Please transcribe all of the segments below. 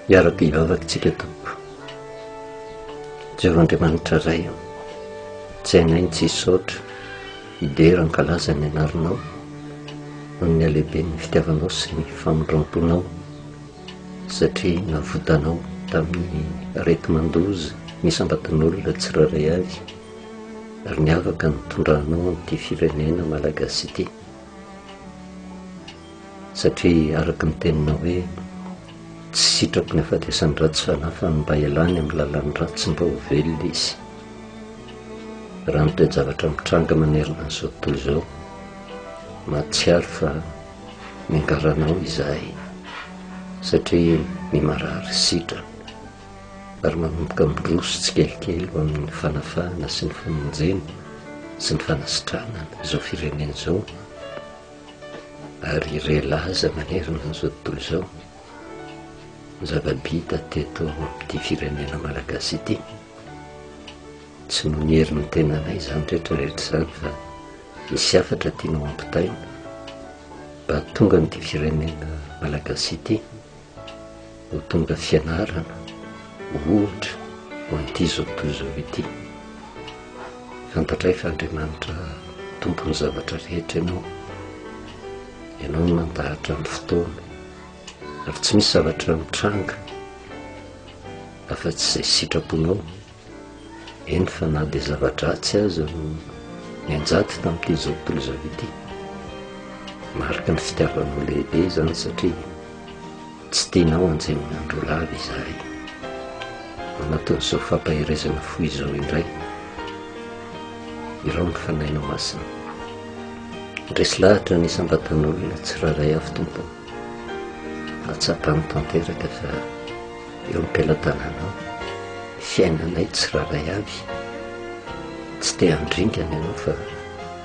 Iaraka hivavaka isika Tompo. Jehovah Andriamanitra Ray, tsy hainay ny tsy hisaotra, hidera hankalaza ny anaranao noho ny halehiben'ny fitiavanao sy ny famindram-ponao satria navotanao tamin'ny areti-mandoza ny isam-batan'olona tsirairay avy ary niavaka nitondranao an'ity firenena malagasy ity. satria araka ny tenina hoe tsy sitraky ny afatesan'ny ratsy fanahy fa ny mba elany amin'ny lalan'ny ratsy mba ho velona izy raha ny toe-javatra mitranga manerana an'izao tontolo izao mahatsiaro fa miangaranao izahay satria ny marary sitrana ary manomboka miroso tsikelikely ho amin'ny fanafahana sy ny famonjena sy ny fanasitranana izao firenena izao ary relaza manerana an'izao tontolo izao ny zava-bita teto amin'ity firenena malagasy ity tsy noho ny herin'ny tenanay izany rehetra rehetra izany fa misy hafatra tianao ampitaina mba tonga amin'ity firenena malagasy ity ho tonga fianarana ohatra ho an'ity izao tontolo izao ity. Fantatray fa Andriamanitra tompon'ny zavatra rehetra ianao. Ianao no mandahatra ny fotoana ary tsy misy zavatra mitranga afa-tsy izay sitraponao. eny fa na dia zava-dratsy aza no nianjady tamin'ity zao tontolo izao ity. Marika ny fitiavanao lehibe izany satria tsy tianao hanjeny ny andro lava izahay. Anatin'izao fampaherezana fo izao indray, irao ny fanahinao masina. Ndresy lahatra ny isam-batan'olona tsirairay avy tompo. Atsapany tanteraka fa eo am-pelatananao, fiainanay tsirairay avy, tsy te handringana ianao fa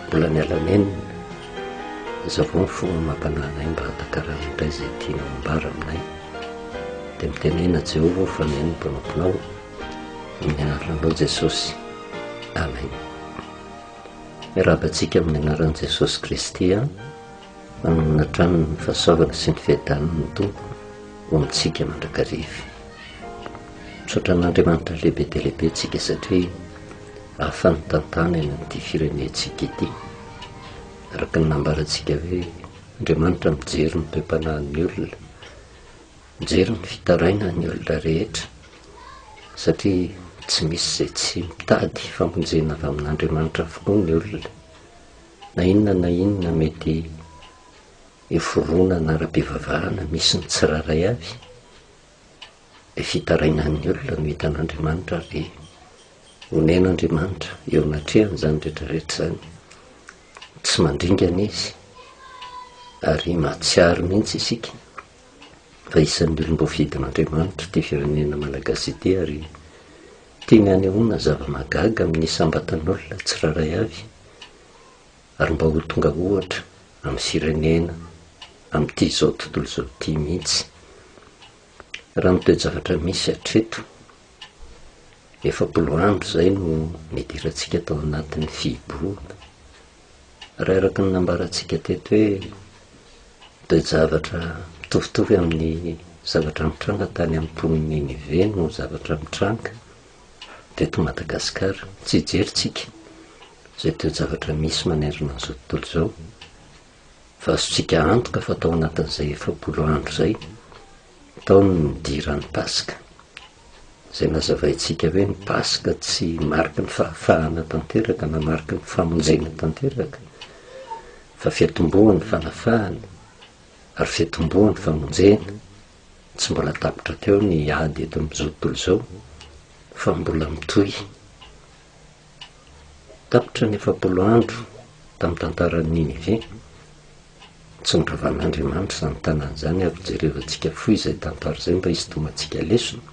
mbola miala menina, azavao ny fomba mampanahy anay mba hatakarana indray izay tianao ambara aminay, dia mitenena Jehovah aho fa mihaino ny mpanomponao, amin'ny anaranao Jesosy, Amen. Miarahaba antsika amin'ny anaran'i Jesosy Kristy an. Manana hatrany ny fahasoavana sy ny fiadanan'ny Tompo ho antsika mandrakariva. Misaotra an'Andriamanitra lehibe dia lehibe tsika satria hafa ny tantana eny amin'ity firenentsika ity. Araka ny nambarantsika hoe Andriamanitra mijery ny toe-panahin'ny olona, mijery ny fitarainan'ny olona rehetra satria tsy misy izay tsy mitady famonjena avy amin'Andriamanitra avokoa ny olona. Na inona na inona mety eo fironana ara-pivavahana misy ny tsirairay avy dia fitarainan'ny olona no hitan'Andriamanitra ary onen'Andriamanitra eo anatrehany izany rehetrarehetra izany. Tsy mandringana izy ary mahatsiaro mihitsy isika fa isan'ny olom-boafidin'Andriamanitra ity firenena Malagasy ity ary tiany hanehoana zava-mahagaga amin'ny isam-batan'olona tsirairay avy ary mba ho tonga ohatra amin'ny firenena amin'ity izao tontolo izao ity mihitsy raha ny toe-javatra misy hatreto efapolo andro izay no nidirantsika tao anatin'ny fihibohana Raha araka ny nambarantsika teto hoe ny toe-javatra mitovitovy amin'ny zavatra nitranga tany amin'ny mponin'i Ninive no zavatra mitranga teto Madagasikara. Tsy hijerintsika izay toe-javatra misy manerana an'izao tontolo izao fa azontsika antoka fa tao anatin'izay efapolo andro izay Tao ny nidiran'ny Paska, izay nazavaintsika hoe ny Paska tsy mariky ny fahafahana tanteraka na mariky ny famonjena tanteraka, fa fiatombohan'ny fanafahana ary fiatombohan'ny famonjena. Tsy mbola tapitra teo ny ady eto amin'izao tontolo izao, fa mbola mitohy. Tapitra ny efapolo andro tamin'ny tantaran'i Ninive. Tsy niravan'Andriamanitra izany tanàna izany ary jerevantsika fohy izay tantara izay mba hisintomantsika lesona.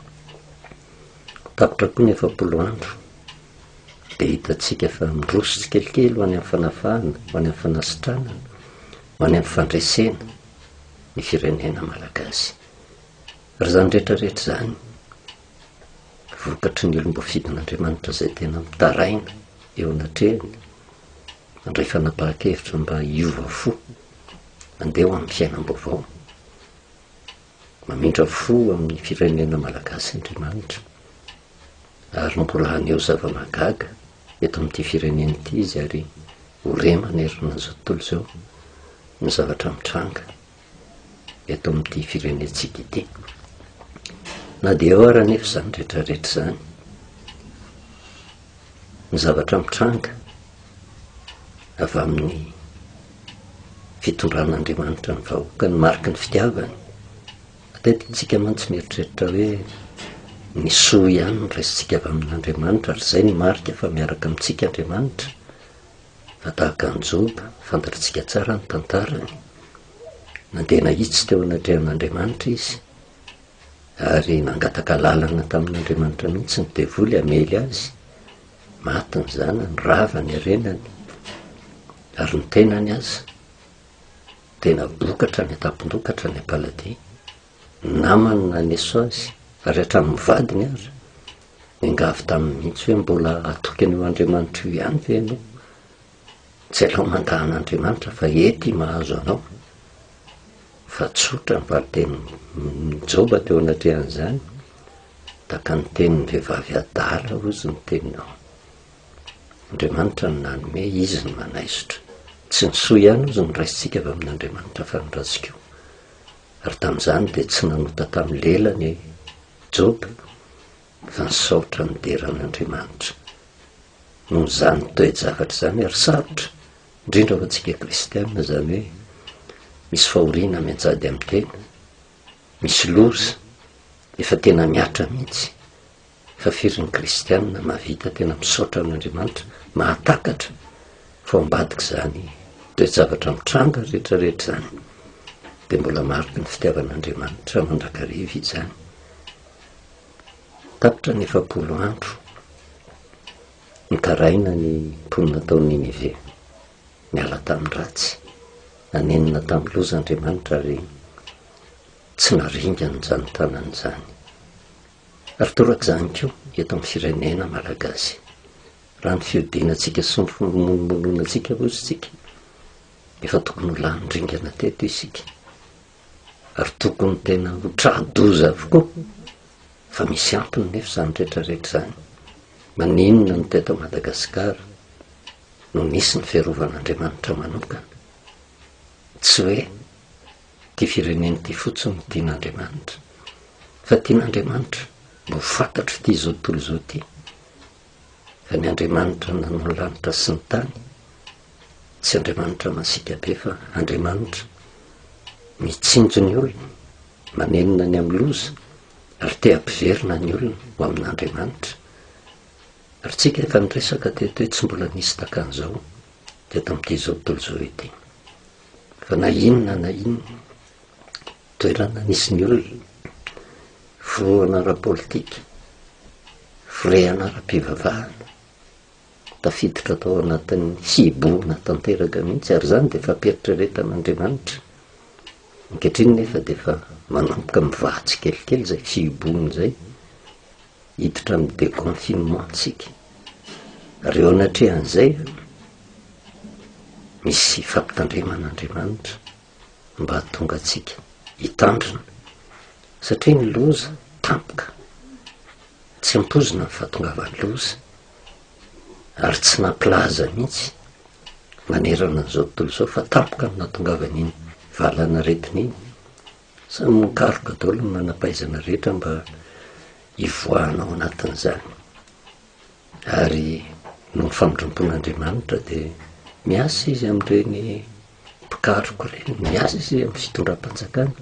Tapitra koa ny efapolo andro, dia hitantsika fa miroso tsikelikely ho any amin'ny fanafahana, ho any amin'ny fanasitranana, ho any amin'ny fandresena ny firenena malagasy. Ary izany rehetra rehetra izany, vokatry ny olom-boafidin'Andriamanitra izay tena mitaraina eo anatrehany, Mandray fanapahan-kevitra mba hiova fo, handeha ho amin'ny fiainam-baovao. Mamindra fo amin'ny firenena malagasy Andriamanitra, ary mbola haneho zava-mahagaga eto amin'ity firenena ity Izy, ary ho re manerana izao tontolo izao ny zavatra mitranga eto amin'ity firenentsika ity. Na dia eo ary anefa izany rehetrarehetra izany, ny zavatra mitranga avy amin'ny fitondran'Andriamanitra ny vahoaka ny mariky ny fitiavany. Matetintsika mantsy mieritreritra hoe ny soa ihany ny resintsika avy amin'Andriamanitra ary izay ny marika fa miaraka amintsika Andriamanitra. fa tahaka an'i Joba, fantatritsika tsara ny tantarany, nandeha nahitsy teo anatrehan'Andriamanitra izy, ary nangataka lalana tamin'Andriamanitra mihitsy ny devoly hamely azy, maty ny zanany, rava ny harenany, ary ny tenany aza, tena bokatra ny an-tampondokatra ny am-paladia, namany na ny esazy ary hatramin'ny vadiny aza, niangavy taminy mihitsy hoe mbola hatoky an'io Andriamanitra io ihany ve ianao? Tsy aleo mandà an'Andriamanitra fa ety i mahazo anao. Fa tsotra ny valin-tenin'i Joba teo anatrehan'izany, tahaka ny tenin'ny vehivavy adala hozy ny teninao. Andriamanitra no nanome, Izy no manaisotra. Tsy ny soa ihany hozy no raisintsika avy amin'Andriamanitra fa ny ratsy koa. ary tamin'izany dia tsy nanota tamin'ny lelany i Joba fa nisaotra nidera an'Andriamanitra. Noho izany toe-javatra izany ary sarotra, indrindra ho antsika kristianina izany hoe misy fahoriana mianjady amin'ny tena, misy loza efa tena miatra mihitsy Fa firy ny kristianina mahavita tena misaotra an'Andriamanitra, mahatakatra fa ao ambadik'izany toe-javatra mitranga rehetrarehetra izany dia mbola mariky ny fitiavan'Andriamanitra mandrakariva izany? Tapitra ny efapolo andro nitaraina ny mponina tao Ninive, niala tamin'ny ratsy, nanenina tamin'ny loza Andriamanitra ary tsy naringany izany tanany izany. Ary torak'izany koa eto amin'ny firenena malagasy. Raha ny fihodinantsika sy ny fimonomononantsika hozy tsika, efa tokony ho lany ringana teto isika. Ary tokony tena ho tra-doza avokoa, fa misy antony nefa izany rehetrarehetra izany. Maninona no teto Madagasikara no nisy ny fiarovan'Andriamanitra manokana? Tsy hoe Ity firenena ity fotsiny no tian'Andriamanitra. Fa tian'Andriamanitra mba ho fantatro ity izao tontolo izao ity. Fa ny Andriamanitra nanao ny lanitra sy ny tany, tsy Andriamanitra masiaka be fa Andriamanitra mitsinjo ny olona, manenina ny amin'ny loza, ary te hampiverina ny olona ho amin'Andriamanitra. Ary tsika efa niresaka teto hoe tsy mbola nisy takan'izao teto amin'ity izao tontolo izao ity. fa na inona na inona toerana nisy ny olona, forohana ara-politika, firehana ara-pivavahana, tafiditra tao anatin'ny hibohana tanteraka mihitsy, ary izany dia fampieritreretaan'Andriamanitra. Ankehitriny nefa dia efa manomboka mivatsy kelikely izay fihibohana izay, Hiditra amin'ny déconfinement isika. Reo anatrehan'izay misy fampitandremana Andriamanitra mba hahatonga antsika hitandrina satria ny loza tampoka tsy ampoizina ny fahatongavan'ny loza ary tsy nampilaza mihitsy manerana an'izao tontolo izao fa tampoka ny nahatongavan'iny valanaretina iny Samy mikaroka daholo ny manam-pahaizana rehetra mba hivoahana ao anatin'izany. Ary noho ny famindram-pon'Andriamanitra dia miasa izy amin'ireny mpikaroka ireny, miasa izy amin'ny fitondram-panjakana,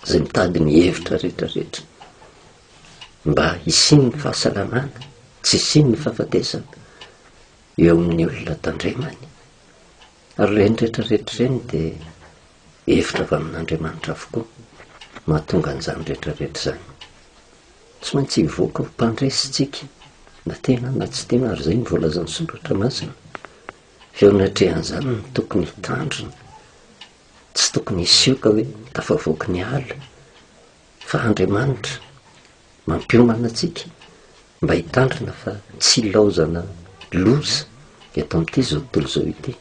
izay mitady ny hevitra rehetra rehetra mba hisian'ny fahasalamana, tsy hisian'ny fahafatesana eo amin'ny olona tandremany. Ary ireny rehetra rehetra ireny dia hevitra avy amin'Andriamanitra avokoa no hahatonga an'izany rehetra rehetra izany. Tsy maintsy hivoaka ho mpandresy isika, na tiana na tsy tiana, ary izay no voalazan'ny Soratra Masina. Fa eo anatrehan'izany no tokony hitandrina. Tsy tokony hisioka hoe tafavoaky ny ala, fa Andriamanitra mampiomana antsika Mba hitandrina fa tsy hilaozana loza eto amin'ity izao tontolo izao ity.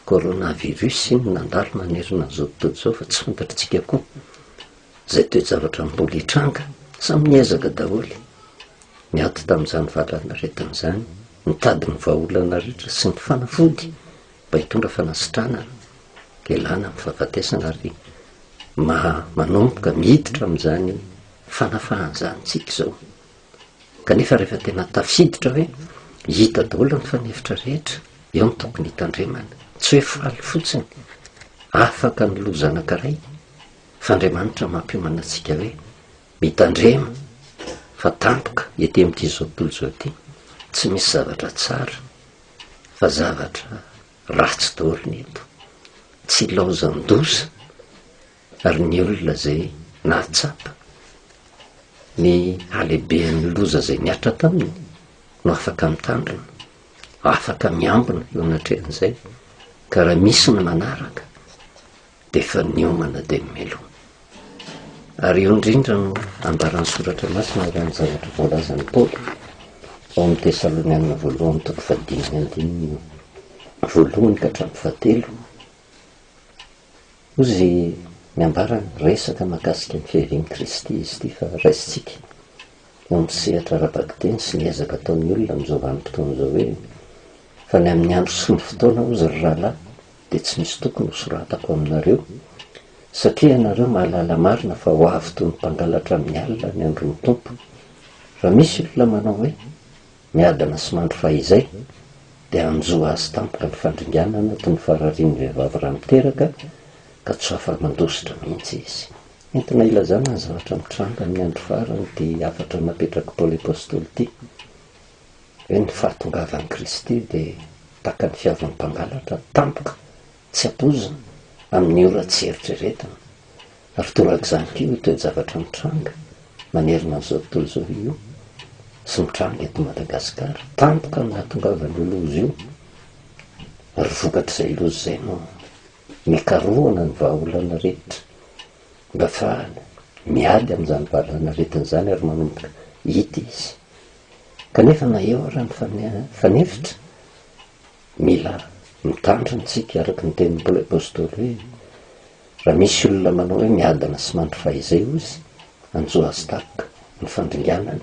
Coronavirus no nandalo nanerana an'izao tontolo izao fa tsy fantatr'tsika koa izay toe-javatra mbola hitranga. Samy niezaka daholo niady tamin'izany valanaretina izany, nitady ny vahaolana rehetra sy ny fanafody mba hitondra fanasitranana hialana amin'ny fahafatesana ary manomboka miditra amin'izany fanafahan-jantsika izao. Kanefa rehefa tena tafiditra hoe hita daholo ny fanefitra rehetra, eo no tokony hitandremana. Tsy hoe faly fotsiny, afaka ny loza anankiray, fa Andriamanitra mampiomana antsika hoe mitandrema fa tampoka ety amin'ity izao tontolo izao ity, tsy misy zavatra tsara fa zavatra ratsy daholo ny eto. Tsy laozan-doza ary ny olona izay nahatsapa ny halehibehan'ny loza izay nihatra taminy no afaka mitandrina, afaka miambina eo anatrehan'izay, ka raha misy ny manaraka dia efa niomana dia ny meloa. Ary eo indrindra no ambaran'ny soratra masina ary amin'ny zavatra voalazan'i Paoly ao amin'ny Tesalonianina voalohany toko fahadimy andininy voalohany ka hatramin'ny fahatelo Hoy izy ny ambarany, resaka mahakasika ny fiavian'i Kristy izy ity fa raisintsika eo amin'ny sehatra ara-bakiteny sy ny ezaka ataon'ny olona amin'izao vanim-potoana izao hoe, Fa ny amin'ny andro sy ny fotoana hozy ry rahalahy dia tsy misy tokony ho soratako aminareo, satria ianareo mahalala marina fa ho avy toy ny mpangalatra amin'ny alina ny andron'ny Tompo. Raha misy olona manao hoe. Miadana sy mandry fahizay dia hanjo azy tampoka ny fandringana anaty ny fararian'ny vehivavy raha miteraka ka tsy ho afa-mandositra mihitsy izy. Entina hilazana ny zavatra mitranga amin'ny andro farany ity hafatra napetrak'i Paoly Apostoly ity, hoe ny fahatongavan'i Kristy dia tahaka ny fihavan'ny mpangalatra tampoka tsy ampoizina amin'ny ora tsy eritreretina Ary torak'izany koa io toe-javatra mitranga manerana an'izao tontolo izao io sy mitranga eto Madagasikara. Tampoka ny nahatongavan'io loza io, ary vokatr'izay loza izay no nikarohana ny vahaolana rehetra mba afahana miady amin'izany valanaretina izany ary manomboka hita izy. Kanefa na eo ary ny fanefitra, mila mitandrina isika araka ny tenin'ny Paoly Apostoly hoe. Raha misy olona manao hoe miadana sy mandry fahizay hozy Anjoa Stark ny fandringanany,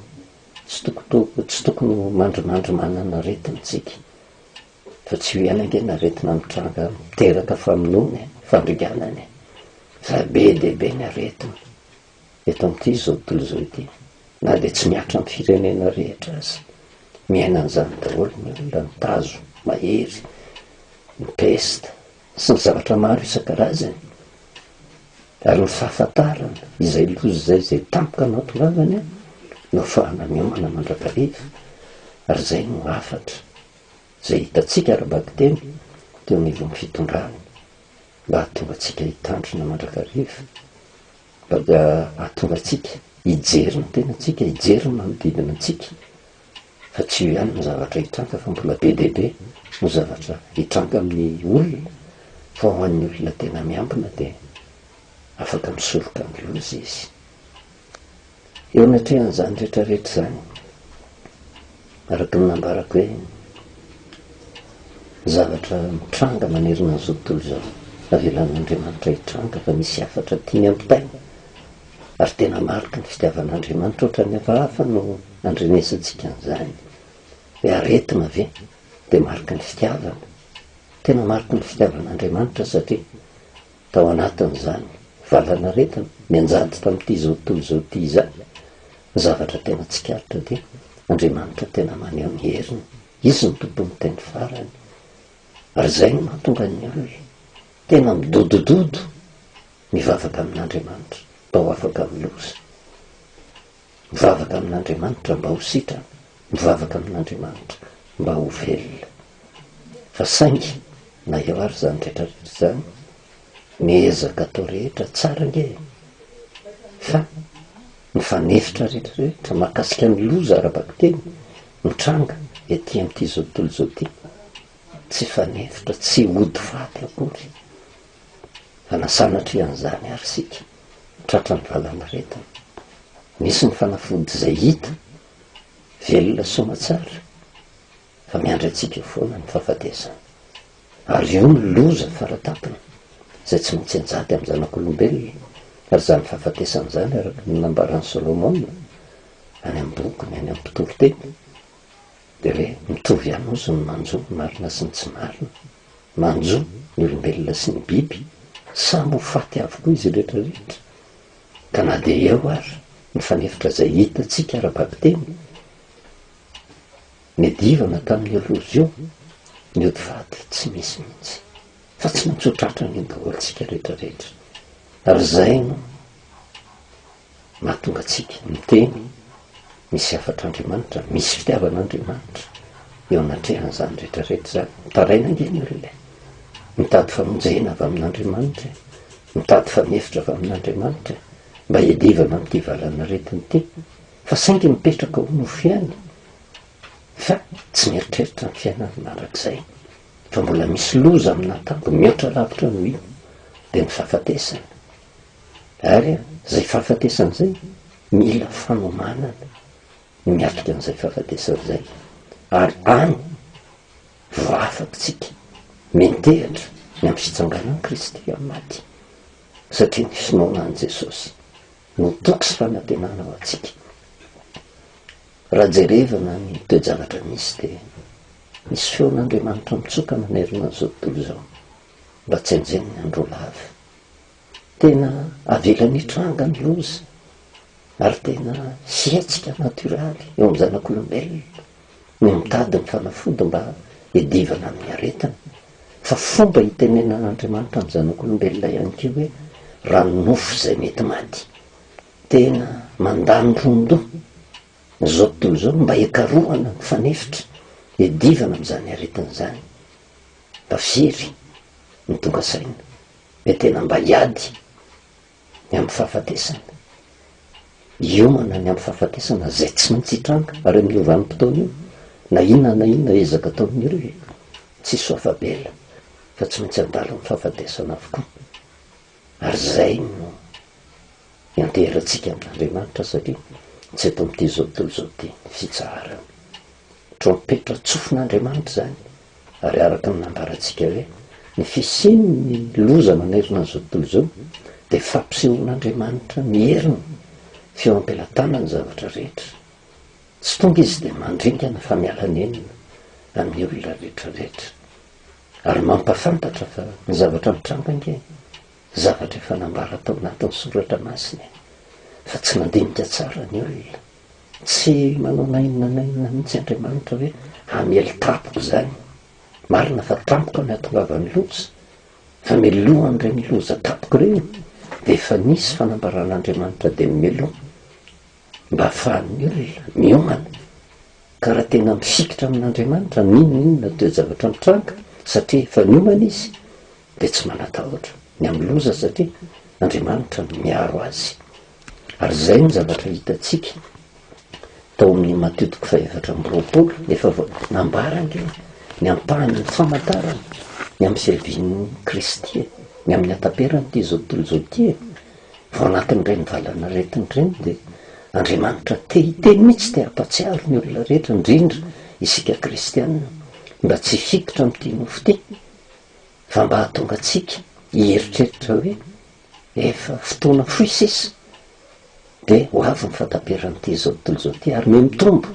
tsy tokotoko, tsy tokony ho mandrimandry manana aretina tsika, fa tsy io ihany ange ny aretina mitranga miteraka famonoana e, fandringanana e, fa be dia be ny aretina eto amin'ity zao tontolo izao ity, na dia tsy mihatra amin'ny firenena rehetra aza, miaina an'izany daholo ny olona, ny tazo, mahery, ny pesta, sy ny zavatra maro isan-karazany, ary ny fahafantarana izay loza izay izay tampoka no hahatongavany no hahafahana miomana mandrakariva, ary izay no hafatra izay hitantsika ara-bakiteny teo anivon'ny fitondrana mba hahatonga antsika hitandrina mandrakariva, mba hahatonga antsika hijery ny tenantsika, hijery ny manodidina antsika fa tsy io ihany no zavatra hitranga fa mbola be dia be no zavatra hitranga amin'ny olona fa ho an'ny olona tena miambina dia afaka misoroka ny loza izy. Eo anatrehan'izany rehetra rehetra izany, araka ny nambarako hoe ny zavatra mitranga manerana an'izao tontolo izao avelan'Andriamanitra hitranga fa misy hafatra tiany hampitaina Ary tena mariky ny fitiavan'Andriamanitra ohatran'ny hafahafa no andrenesintsika an'izany. Hoe aretina ve dia mariky ny fitiavana? Tena mariky ny fitiavan'Andriamanitra satria tao anatin'izany valan'aretina nianjady tamin'ity izao tontolo izao ity izany, ny zavatra tena tsikaritra dia Andriamanitra tena maneho ny heriny. Izy no Tompon'ny teny farany. Ary izay no mahatonga ny olona tena midodododo Mivavaka amin'Andriamanitra mba ho afaka amin'ny loza. Mivavaka amin'Andriamanitra mba ho sitrana. Mivavaka amin'Andriamanitra mba ho velona. Fa saingy, na eo ary izany rehetrarehetra izany, ny ezaka atao rehetra tsara ange e! Fa ny fanefitra rehetrarehetra mahakasika ny loza ara-bakiteny mitranga ety amin'ity izao tontolo izao ity, tsy fanefitra, tsy ody faty akory. Fa na sanatria an'izany ary isika, tratran'ny valanaretina. Misy ny fanafody izay hita, velona soamantsara, fa miandry antsika foana ny fahafatesana. Ary io no loza faratampony, izay tsy maintsy anjady amin'ny zanak'olombelona, ary izany fahafatesana izany, araka ny nambaran'i Solomona, any amin'ny bokiny, any amin'ny mpitoriteny, Dia hoe mitovy ihany ozy ny manjo ny marina sy ny tsy marina. Manjo ny olombelona sy ny biby, samy ho faty avokoa izy rehetra rehetra. Ka na dia eo ary ny fanefitra izay hitantsika ara-bakiteny, ny divana tamin'io loza io, ny ody faty tsy misy mihitsy. Fa tsy maintsy ho tratra an'io daholo isika rehetra rehetra. Ary izay no. mahatonga antsika miteny misy hafatr'Andriamanitra, misy fitiavan'Andriamanitra eo anatrehan'izany rehetra rehetra izany. Mitaraina ange ny olona e! Mitady famonjena avy amin'Andriamanitra e! Mitady fanefitra avy amin'Andriamanitra e! Mba hiadivana amin'ity valan'aretina ity, fa saingy mipetraka ho nofy ihany, fa tsy mieritreritra ny fiainana mandrakizay, fa mbola misy loza amin'Atambo mihoatra lavitra noho io, dia ny fahafatesana. Ary izay fahafatesana izay, mila fanomanana ny miatrika an'izay fahafatesana izay. Ary any vao afatsika miantehatra ny amin'ny fitsanganan'i Kristy amin'ny maty. Satria ny finoana an'i Jesosy no toky sy fanantenana ho antsika. Raha jerevana ny toe-javatra misy dia misy feon'Andriamanitra mitsoka manerana an'izao tontolo izao mba tsy henjehin'ny andro lava. Tena avelany hitranga ny loza ary tena hetsika natoraly eo amin'ny zanak'olombelona ny mitady ny fanafody mba hiadivana amin'ny aretina. Fa fomba itenenan'Andriamanitra amin'ny zanak'olombelona ihany koa hoe raha ny nofo izay mety maty. Tena mandany ron-doha izao tontolo izao mba hikarohana ny fanefitra hiadivana amin'izany aretina izany. Fa firy no tonga saina hoe tena mba hiady ny amin'ny fahafatesana, hiomana ny amin'ny fahafatesana izay tsy maintsy hitranga ary amin'io vanim-potoana io na inona na inona ezaka ataon'ireo e! Tsisy ho afa-bela fa tsy maintsy handalo amin'ny fahafatesana avokoa ary izay no ianteherantsika amin'Andriamanitra satria tsy eto amin'ity izao tontolo izao ity ny fitsaharany. Trompetra tsofin'Andriamanitra izany Ary araka ny nambarantsika hoe ny fisian'ny loza manerana an'izao tontolo izao dia fampisehoan'Andriamanitra ny heriny sy eo am-pelatanany ny zavatra rehetra. Tsy tonga izy dia mandringana fa miala nenina amin'ny olona rehetra rehetra. Ary mampafantatra fa ny zavatra mitranga ange zavatra efa nambara tao anatin'ny soratra masina e! Fa tsy nandinika tsara ny olona. Tsy manao na inona na inona mihitsy Andriamanitra hoe hamely tampoka izany. Marina fa tampoka no ihatongavan'ny loza, fa meloha an'ireny loza tampoka ireny, dia efa nisy fanambaran'Andriamanitra dia mimeloha, mba hahafahan'ny olona miomana. Ka raha tena mifikitra amin'Andriamanitra, na inona na inona toe-javatra mitranga, satria efa niomana izy, dia tsy manatahotra ny amin'ny loza, satria Andriamanitra no miaro azy. Ary izay no zavatra hitantsika tao amin'ny Matio toko fahaefatra amby roapolo, efa nambara ange ny ampahan'ny famantarana ny amin'ny fiavian'i Kristy e, ny amin'ny hataperan'ity izao tontolo izao ity e. Vao anatin'ireny valanaretina ireny dia Andriamanitra te hiteny mihitsy, te hampatsiaro ny olona rehetra, indrindra isika kristiana, mba tsy hifiditra amin'ity nofo ity, fa mba hahatonga antsika hieritreritra hoe efa fotoana fohy sisa dia ho avy ny fahataperan'ity izao tontolo izao ity ary mihamitombo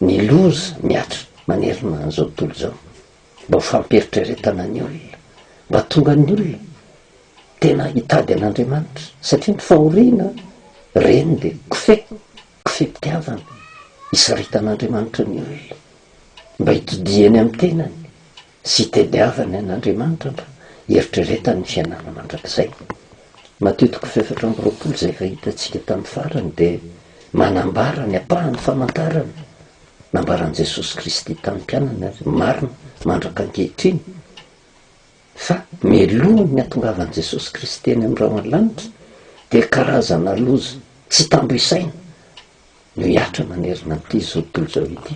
ny loza mihatra manerana an'izao tontolo izao. Mba ho fampieritreretana ny olona, mba hatonga ny olona tena hitady an'Andriamanitra satria ny fahoriana reny dia kofehy, kofehim-pitiavana, hisaritan'Andriamanitra ny olona mba hitodiany amin'ny tenany sy itediavany an' Andriamanitra mba hieritreretany ny fiainana mandrakizay. Matio toko fahefatra amby roapolo izay efa hitantsika tamin'ny farany dia manambara ny ampahan'ny famantarana nambaran'i Jesosy Kristy tamin'ny mpianany ary marina mandraka ankehitriny fa mialoha ny hatongavan'i Jesosy Kristy eny amin'ny rahona lanitra dia karazana loza tsy tambo isaina Mihatra manerana an'ity zao tontolo izao ity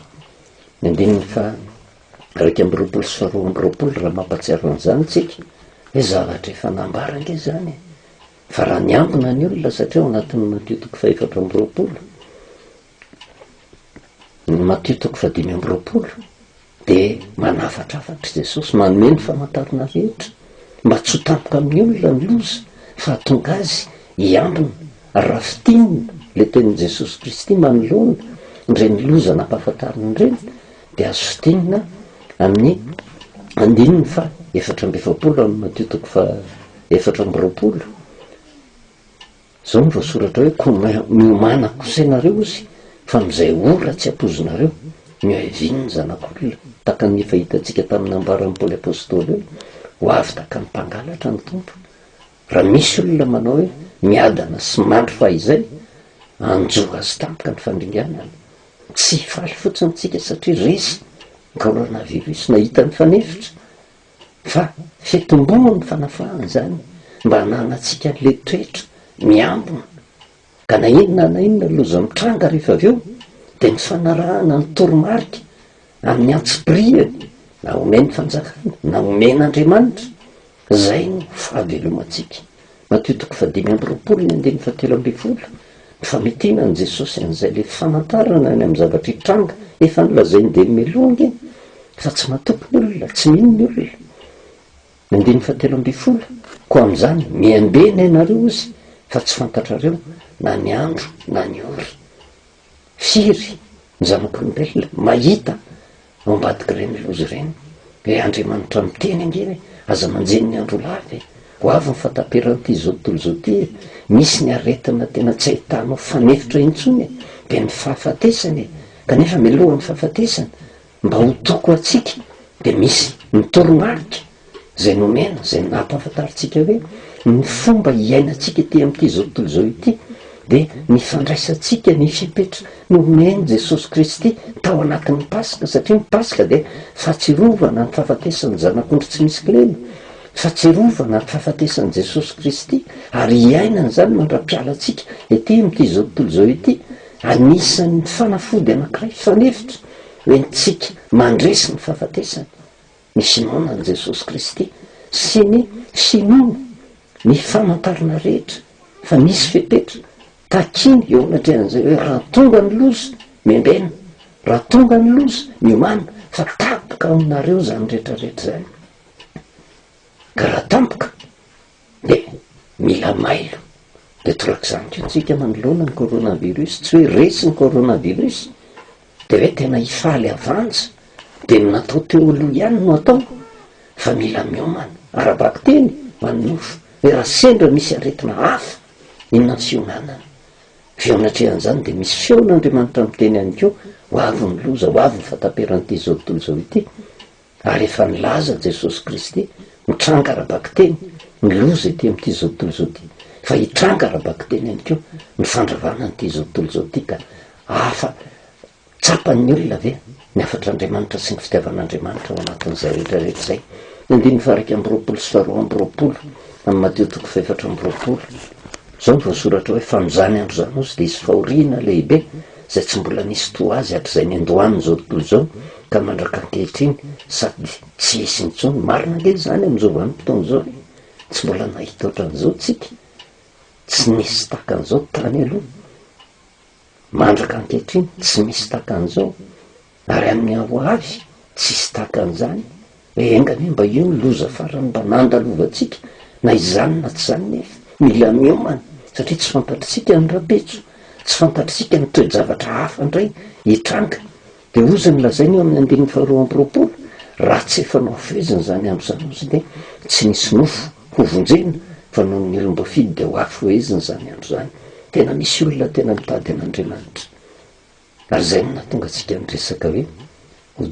ny andininy faha iraika amby roapolo sy faha roa amby roapolo raha mampahatsiaro an'izany isika hoe zavatra efa nambara ange izany e! Fa raha niambina ny olona satria ao anatin'ny Matio toko faha efatra amby roapolo, ny Matio toko faha dimy amby roapolo, Dia manafatrafatr'i Jesosy manome ny famantarana rehetra mba tsy ho tampoka amin'ny olona ny loza fa hatonga azy hiambina raha fintinina ilay tenin'i Jesosy Kristy manoloana ireny loza nampahafantariny ireny dia azo fintinina amin'ny andininy fa efatra amby efapolo amin'ny Matio toko fa efatra amby roapolo Zao no voasoratra hoe ko miomana kose nareo ozy fa amzay ora tsy apozinareo ny oeviany ny zanakolona taka ny efa hitantsika taminy ambarany paoly apostoly hoe ho avy taka ny mpangalatra ny tompo raha misy olona manao hoe miadana sy mandry fahizay anjo azy tampoka ny fandringanana tsy hifaly fotsiny tsika satria resy ny corona virus nahita ny fanefitra fa fitomboany ny fanafahana izany mba hananantsika ilay toetra miambina ka na inona na inona loza mitranga rehefa avy eo dia ny fanarahana ny toromarika amin'ny antsipirihany na omen'ny fanjakana na omen'Andriamanitra izay no fahavelomantsika Matio toko fahadimy amby roapolo ny andininy fahatelo ambin'ny folo, Ny famitiana an'i Jesosy an'izay ilay famantarana ny amin'ny zavatra hitranga, efa nolazainy dia nimelohany iny, fa tsy matoky ny olona, tsy mino ny olona. Ny andininy fahatelo ambin'ny folo, Koa amin'izany, miambena ianareo ozy, fa tsy fantatrareo na ny andro na ny ora. firy ny zanak'olombelona mahita ao ambadik'ireny loza ireny e! Andriamanitra miteny ange hoe aza manjiny ny andro lava e! Ho avy ny fahataperan'ity izao tontolo izao ity e! Misy ny aretina tena tsy ahitanao fanefitra intsony e! Dia ny fahafatesana e! Kanefa meloha ny fahafatesana. Mba ho toko ho antsika dia misy ny toromarika izay nomena, izay nampahafantarintsika hoe ny fomba hiainantsika ety amin'ity izao tontolo izao ity dia ny fandraisantsika ny fepetra nomen'i Jesosy Kristy tao anatin'ny Paska, satria ny Paska dia fahatsiarovana ny fahafatesan'ny Zanak'ondry tsy misy kilema, fahatsiarovana ny fahafatesan'i Jesosy Kristy, ary hiainana izany mandra-piala antsika ety amin'ity izao tontolo izao ity, anisan'ny fanafody anankiray fanefitra. Entintsika mandresy ny fahafatesany, ny finoana an'i Jesosy Kristy sy ny finoana ny famantarana rehetra fa misy fepetra takiany eo anatrehan'izay hoe raha tonga ny loza, membenina, raha tonga ny loza, miomàna fa tapaka ao aminareo izany rehetra rehetra izany. Ka raha tampoka Dia mila mailo. Dia torak'izany koa tsika manoloana ny coronavirus, tsy hoe resy ny coronavirus dia hoe tena hifaly havanja, dia ny natao teo aloha ihany no atao fa mila miomana, ara-bakiteny fa ny nofo, hoe raha sendra misy aretina hafa, inona ny fionanana? Avy eo anatrehan'izany dia misy feon'Andriamanitra miteny ihany koa, ho avy ny loza, ho avy ny fataperan'ity izao tontolo izao ity, Ary efa nilaza Jesosy Kristy, mitranga ara-bakiteny ny loza ety amin'ity izao tontolo izao ity, fa hitranga ara-bakiteny ihany koa ny fandravana an'ity izao tontolo izao ity ka. Afa, tsapan'ny olona ve ny hafatr'Andriamanitra sy ny fitiavan'Andriamanitra ao anatin'izay rehetra rehetra izay? Ny andininy faha iraika amby roapolo sy faha roa amby roapolo amin'ny Matio toko faha efatra amby roapolo. Izao ny voasoratra hoe, Fa amin'izany andro izany hozy dia hisy fahoriana lehibe izay tsy mbola nisy toa azy hatrizay niandohan'izao tontolo izao ka mandraka ankehitriny, sady tsy hisy intsony. Marina ange izany amin'izao vanim-potoana izao e! Tsy mbola nahita ohatran'izao tsika. Tsy nisy tahaka an'izao tany aloha. Mandraka ankehitriny, tsy misy tahaka an'izao. Ary amin'ny hoavy tsisy tahaka an'izany e enga anie mba io ny loza farany mba nandalovantsika na izany na tsy izany nefa mila miomana satria tsy fantatritsika ny rapetso tsy fantatritsika ny toe-javatra hafa indray hitranga de hoy izany lazaina eo amin'ny andininy faharoa amby roapolo raha tsy efa nohafezina izany andro izany hozy de tsy nisy nofo hovonjena fa noho ny olom-ba fidy de hoafohezina izany andro izany tena misy olona tena mitady an'Andriamanitra Ary izay no nahatonga antsika niresaka hoe ho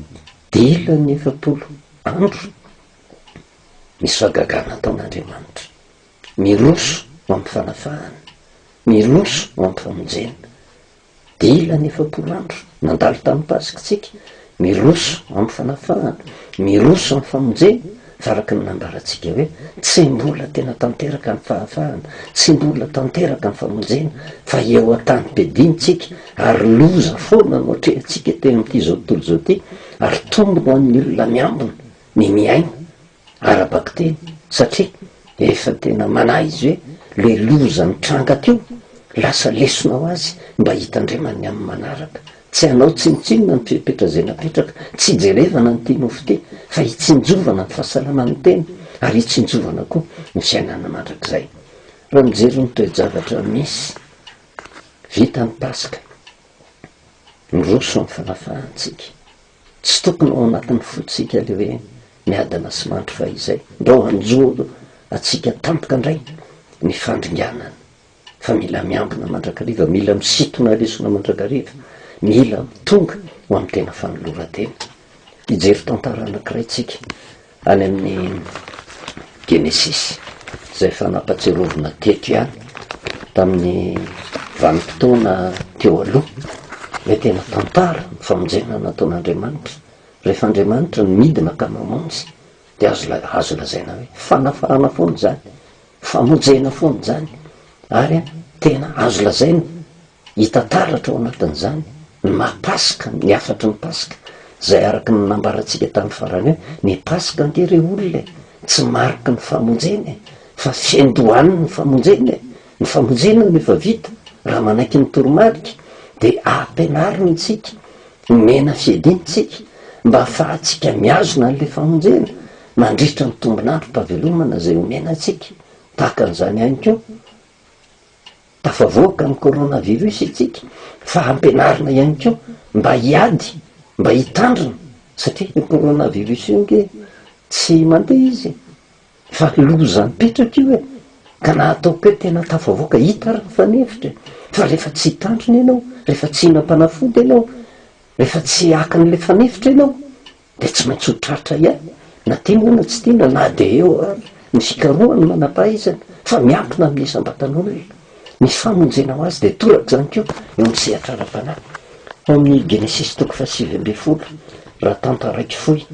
dila ny efapolo andro. Misy fahagagana ataon'Andriamanitra. Miroso ho amin'ny fanafahana. Miroso ho amin'ny famonjena. Dila ny efapolo andro. Nandalo tamin'ny Pasikitsika Miroso amin'ny fanafahana, miroso amin'ny famonjena, fa araka ny nambarantsika hoe, tsy mbola tena tanteraka ny fahafahana, tsy mbola tanteraka ny famonjena, fa eo an-tanim-piadiantsika, ary loza foana no atrehantsika teo amin'ity izao tontolo izao ity, ary tombony ho an'ny olona miambina ny miaina. ara-bakiteny satria efa tena manahy izy hoe le loza mitranga teo lasa lesona ho azy mba hitandreman'ny amin'ny manaraka. Tsy hanao tsinontsinona ny fepetra izay napetraka, tsy hijerevana ny tianao ho te fa hitsinjovana ny fahasalaman'ny tena ary hitsinjovana koa ny fiainana mandrakizay. Raha mijery ny toe-javatra misy, vita ny Paska, miroso amin'ny fanafahantsika. Tsy tokony ho ao anatin'ny fontsika ilay hoe miadana sy mandry fa izay mba ho hanjo antsika tampoka indray ny fandringanana fa mila miambina mandrakariva, mila misintona lesona mandrakariva, mila mitonga ho amin'ny tena fanoloran-tena. Hijery tantara anankiray tsika Any amin'ny Genesisy, izay efa nampatsiarovina teto ihany tamin'ny vanim-potoana teo aloha, ilay tena tantara, ny famonjena nataon'Andriamanitra. Rehefa Andriamanitra no midina ka mamonjy, dia azo la- azo lazaina hoe fanafahana foana izany, famonjena foana izany, ary tena azo lazaina Hita taratra ao anatin'izany ny maha Paska ny hafatry ny Paska izay araka ny nambarantsika tamin'ny farany hoe ny Paska ange re olona e, tsy mariky ny famonjena e, fa fiandohan'ny famonjena e, ny famonjena no efa vita raha manaiky ny toromarika dia ampianariny antsika, omena fiadiana antsika mba hahafahantsika mihazona an'ilay famonjena mandritra ny tombon'androm-pahavelomana izay omena antsika, tahaka an'izany ihany koa. Tafavoaka ny coronavirus isika fa ampianarina ihany koa mba hiady, mba hitandrina satria io coronavirus io ange tsy mandeha izy fa loza mipetraka io e! ka na ataoko hoe tena tafavoaka hita ary ny fanefitra e! fa rehefa tsy hitandrina ianao, rehefa tsy hihinam-panafody ianao, rehefa tsy haka an'ilay fanefitra ianao Dia tsy maintsy ho tratra ihany, na tia moa na tsy tia na na dia eo ary ny fikarohana ny manam-pahaizana, fa miankina amin'ny isam-batan'olona ny famonjena ho azy, dia toraka izany koa eo amin'ny sehatra ara-panahy. Ao amin'ny Genesisy toko fahasivy ambin'ny folo, raha tantaraiko fohy,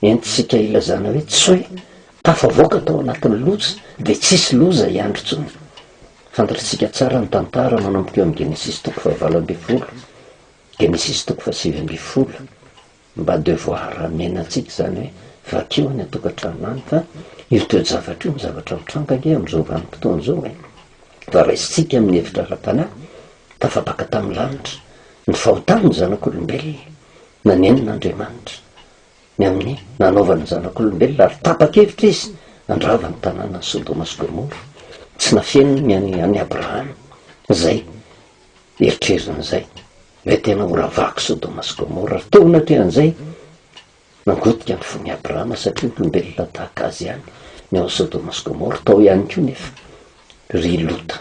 entintsika ilazana hoe tsy hoe tafavoaka tao anatin'ny loza dia tsy hisy loza hiandry intsony. Fantatritsika tsara ny tantara manomboka eo amin'ny Genesisy toko fahavalo ambin'ny folo, Genesisy toko fahasivy ambin'ny folo, Mba devoir amena antsika izany hoe vakio any an-tokantrano any fa io toe-javatra io no zavatra mitranga ange amin'izao vanim-potoana izao e! Fa raisintsika amin'ny hevitra ara-panahy, tafapaka tamin'ny lanitra ny fahotan'ny zanak'olombelona, nanenina Andriamanitra ny amin'ny nanaovany ny zanak'olombelona ary tapa-kevitra Izy handrava ny tanànan'i Sodoma sy Gomora, tsy nafeniny ny an'i Abrahama izay Eritrerina an'izay, ilay tena ora vaky Sodoma sy Gomora, ary teo anatrehan'izay, nangotika ny fon'i Abrahama, satria olombelona tahaka azy ihany ny ao Sodoma sy Gomora. Tao ihany koa nefa ry Lota,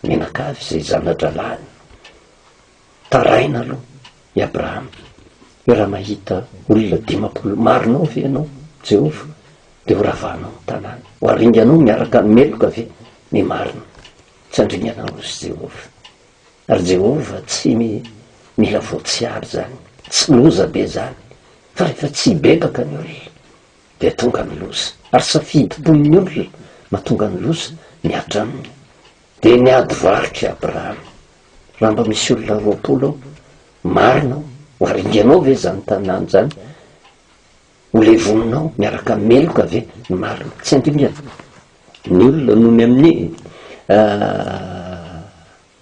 mianakavy izay zana-drahalahiny. Taraina aloha i Abrahama hoe raha mahita olona dimampolo, marinao ve ianao Jehovah, dia horavahanao ny tanàna? Hoaringanao miaraka amin'ny meloka ve ny marina? Tsy handringana anao izy Jehovah. Ary Jehovah tsy mila voatsiary izany. Tsy loza be izany. Fa rehefa tsy hibebaka ny olona, dia tonga ny loza. Ary safidim-pon'ny olona mahatonga ny loza mihatra aminy. Dia niady varotra i Abrahama. Raha mba misy olona roapolo ao, marina aho, ho haringanao ve izany tanàna izany? Ho levominao miaraka meloka ve ny marina? Tsy handringana ny olona noho ny amin'ny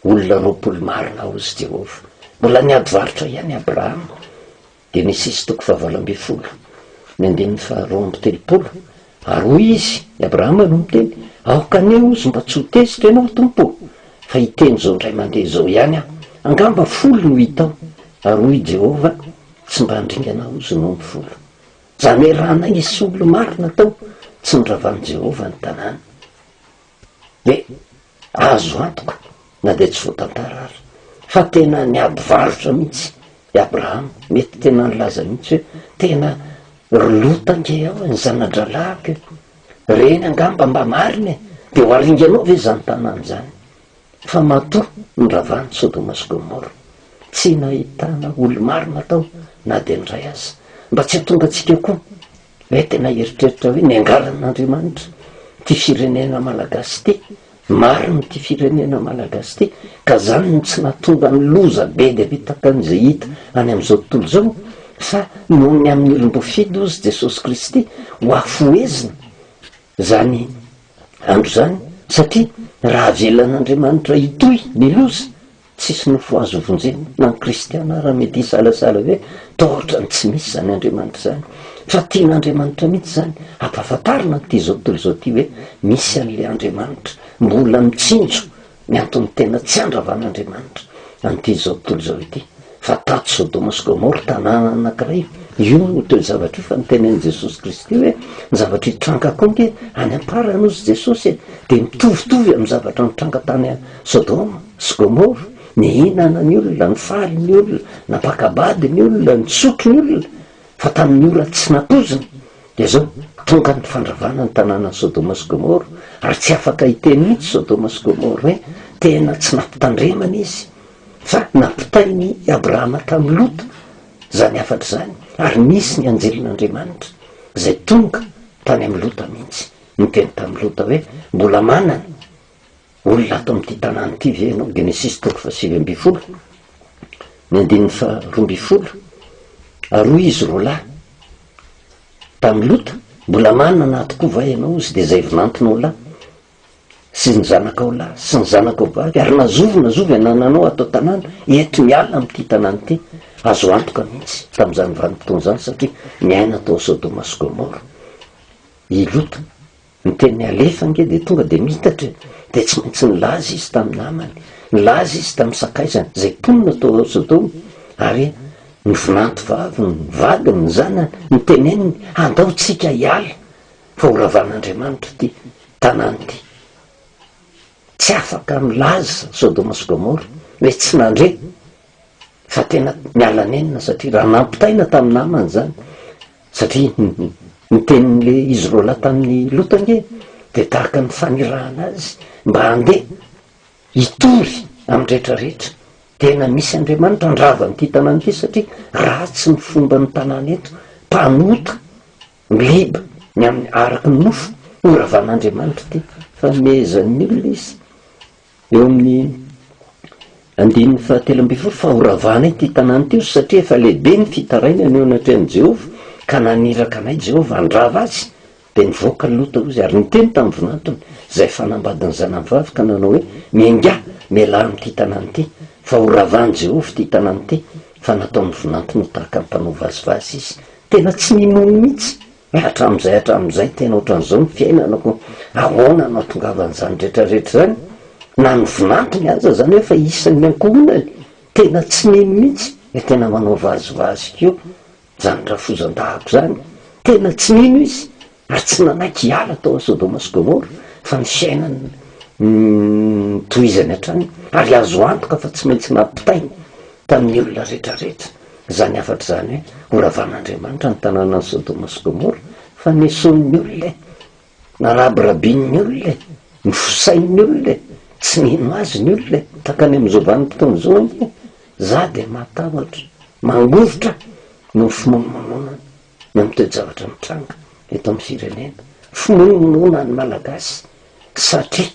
olona roapolo marina, hozy Jehovah. Mbola niady varotra ihany i Abrahama, Genesisy toko fahavalo ambin'ny folo, ny andininy faharoa amby telopolo, ary hoy izy, i Abrahama no miteny, Aoka anie, hozy, mba tsy ho tezitra ianao, Tompo ô, fa hiteny izao indray mandeha izao ihany aho. Angamba folo no hitao. Ary hoy i Jehovah, Tsy mba handringana aho izao ny folo Jamerana hisy olona maro natao tsy noravan'i Jehovah ny tanàna. Dia azo antoka, na dia tsy voatantara aza, fa tena niady varotra mihitsy i Abrahama. Mety tena nilaza mihitsy hoe, Tena ry Lota ange aho e, ny zana-drahalahiko e! Ireny angamba mba marina e! Dia ho aringanao ve izany tanàna izany? fa matoa noravan'i Sodoma sy Gomora. Tsy nahitana olo-marina tao na dia indray aza. Mba tsy hahatonga antsika koa hoe tena hieritreritra hoe niangaran'Andriamanitra ity firenena malagasy ity, marina ity firenena malagasy ity, ka izany no tsy nahatonga ny loza be dia be tahaka an'izay hita any amin'izao tontolo izao, fa noho ny amin'ny olom-boafidy hozy Jesosy Kristy, hoafohezina. izany andro izany, satria raha avelan'Andriamanitra hitohy ny loza, tsisy nofo azo vonjena na ny kristiana ara mety hisalasala hoe toa ohatrany tsy misy izany Andriamanitra izany, fa tian'Andriamanitra mihitsy izany hampahafantarina an'ity zao tontolo izao ity hoe misy an'ilay Andriamanitra mbola mitsinjo ny antony tena tsy andravan'Andriamanitra an'ity izao tontolo izao ity, fa tato Sodoma sy Gomora, tanàna anankiray, io no toe-javatra io, fa notenenin'i Jesosy Kristy hoe, ny zavatra hitranga koa ange any am-parany hozy Jesosy e, dia mitovitovy amin'ny zavatra nitranga tany Sodoma sy Gomora, nihinana ny olona, nifaly ny olona, nampaka-bady ny olona, nisotro ny olona, Fa tamin'ny ora tsy natoziny, dia zao, tonga ny fandravana ny tanànan'i Sodoma sy Gomora, ary tsy afaka hiteny mihitsy Sodoma sy Gomora hoe tena tsy nampitandremana izy, fa nampitainy i Abrahama tamin'i Lota izany hafatra izany, ary nisy ny anjelin'Andriamanitra izay tonga tany amin'i Lota mihitsy, niteny tamin'i Lota hoe mbola manana Olona ato amin'ity tanàna ity ve ianao? Genesisy toko fahasivy ambin'ny folo, ny andininy faharoa ambin'ny folo, Ary hoy izy roa lahy tamin'i Lota, Mbola manana ahy tokoa va ianao, hozy, dia izay vinantinao lahy, sy ny zanakao lahy, sy ny zanakao vavy, ary na zovy na zovy anananao ato an-tanàna, eto miala amin'ity tanàna ity, azo antoka mihitsy tamin'izany vanim-potoana izany, satria niaina tao Sodoma sy Gomora i Lota. Ny tenin'i Alef ange dia tonga dia miitatra e! Dia tsy maintsy nilaza izy tamin'ny namany, nilaza izy tamin'ny sakaizany, izay mponina tao Sodoma, ary ny vinantovaviny, ny vadiny, ny zanany, niteneniny, Andao tsika hiala, fa ho ravan'Andriamanitra ity tanàna ity. Tsy afaka milaza Sodoma sy Gomora ilay tsy nandre fa tena miala nenina satria raha nampitaina tamin'ny namany izany Satria ny tenin'le izy roa lahy tamin'i Lota ange dia tahaka ny fanirahana azy mba handeha hitory amin'ny rehetra rehetra. Tena misy Andriamanitra handrava an'ity tanàna ity satria ratsy ny fomban'ny tanàna eto, mpanota, mliba ny amin'ny araky ny nofo, horavan'Andriamanitra ity, fanomezan'ny olona izy. Eo amin'ny andininy fahatelo ambin'ny folo fa horavana ity tanàna ity, hoy, satria efa lehibe ny fitarainany eo anatrehan'i Jehovah, ka naniraka anay Jehovah handrava azy. Dia nivoaka Lota, hoy izy, ary niteny tamin'ny vinantony, izay fanambadin'ny zanany vavy, ka nanao hoe, Miangà, mialà amin'ity tanàna ity, fa horavan'i Jehovah ity tanàna ity, fa nataon'ny vinantony ho tahaka ny mpanao vazivazy izy. Tena tsy ninono mihitsy Ny hatramin'izay hatramin'izay tena ohatran'izao ny fiainanako, ahoana no hahatongavan'izany rehetra rehetra izany? Na ny vinantony aza izany efa isan'ny ankohonany, tena tsy mino mihitsy dia tena manao vazivazy koa izany rafozan-dahako izany, tena tsy mino izy ary tsy nanaiky hiala tao amin'ny Sodoma sy Gomora fa ny fiainany no notohizany hatrany ary azo antoka fa tsy maintsy nampitainy. tamin'ny olona rehetra rehetra izany hafatra izany hoe horavan'Andriamanitra ny tanànan'i Sodoma sy Gomora fa nesoin'ny olona e! narabirabin'ny olona e! nofosain'ny olona e! tsy nino azy ny olona e! takany amin'ny zovan'ny mpitondra izao anie e! za dia matahotra mangovitra noho ny fimonomononana ny amin'ny toe-javatra mitranga eto amin'ny firenena fimonomononan'ny Malagasy satria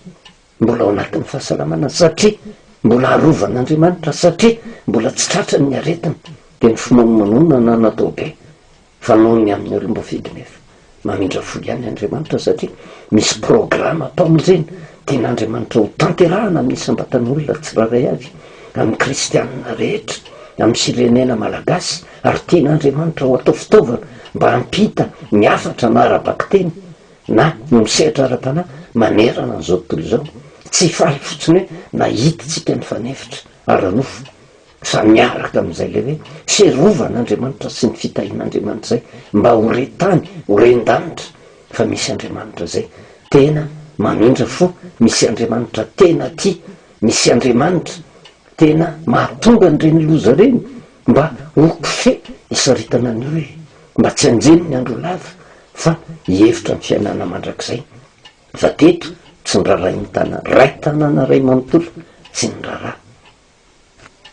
Mbola ao anatin'ny fahasalamana satria mbola arovan'Andriamanitra satria mbola tsy tratrany ny aretina dia ny fimonomonona na natao be fa noho ny amin'ny olom-boafidy nefa mamindra fo ihany Andriamanitra satria misy programa pamonjena tian'Andriamanitra ho tanterahana amin'ny isam-batan'olona tsirairay avy amin'ny kristianina rehetra amin'ny firenena malagasy ary tian'Andriamanitra ho atao fitaovana mba hampita ny hafatra na ara-bakiteny na ny misehatra ara-panahy manerana an'izao tontolo izao, tsy faly fotsiny hoe nahitintsika ny fanefitra ara-nofo, fa miaraka amin'izay ilay hoe fiarovan'Andriamanitra sy ny fitahian'Andriamanitra izay mba ho re tany, ho ren-danitra fa misy Andriamanitra izay tena mamindra fo, misy Andriamanitra tena tia, misy Andriamanitra Tena mahatonga an'ireny loza ireny mba ho kofehy isaritana ny hoe mba tsy hanjeny ny andro lava fa hihevitra ny fiainana mandrakizay. Fa teto tsy norarahin'ny tana ray tanàna iray manontolo tsy niraraha.